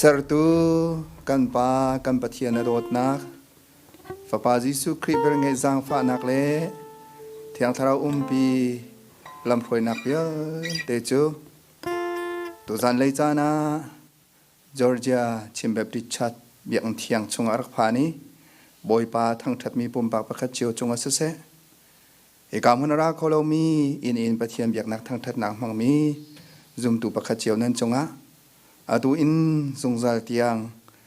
Sertu kan Pa kan Pathian na dawtnak Fapa Jesuh Khrih velngeih zaangfahnak le Thiang Thlarau umpi lamhruainak vialte cu Tuzan lei caan ah Georgia Chin Baptist Church biakinn thiang chungah a rak phan i Bawipa thangṭhatmi pumpak pakhat cio cungah siseh hika hmun a ra kho lomi inn in Pathian biaknak thangṭhatnak hmangmi zumtu pakhat cio nan cungah atu in zungzal tiang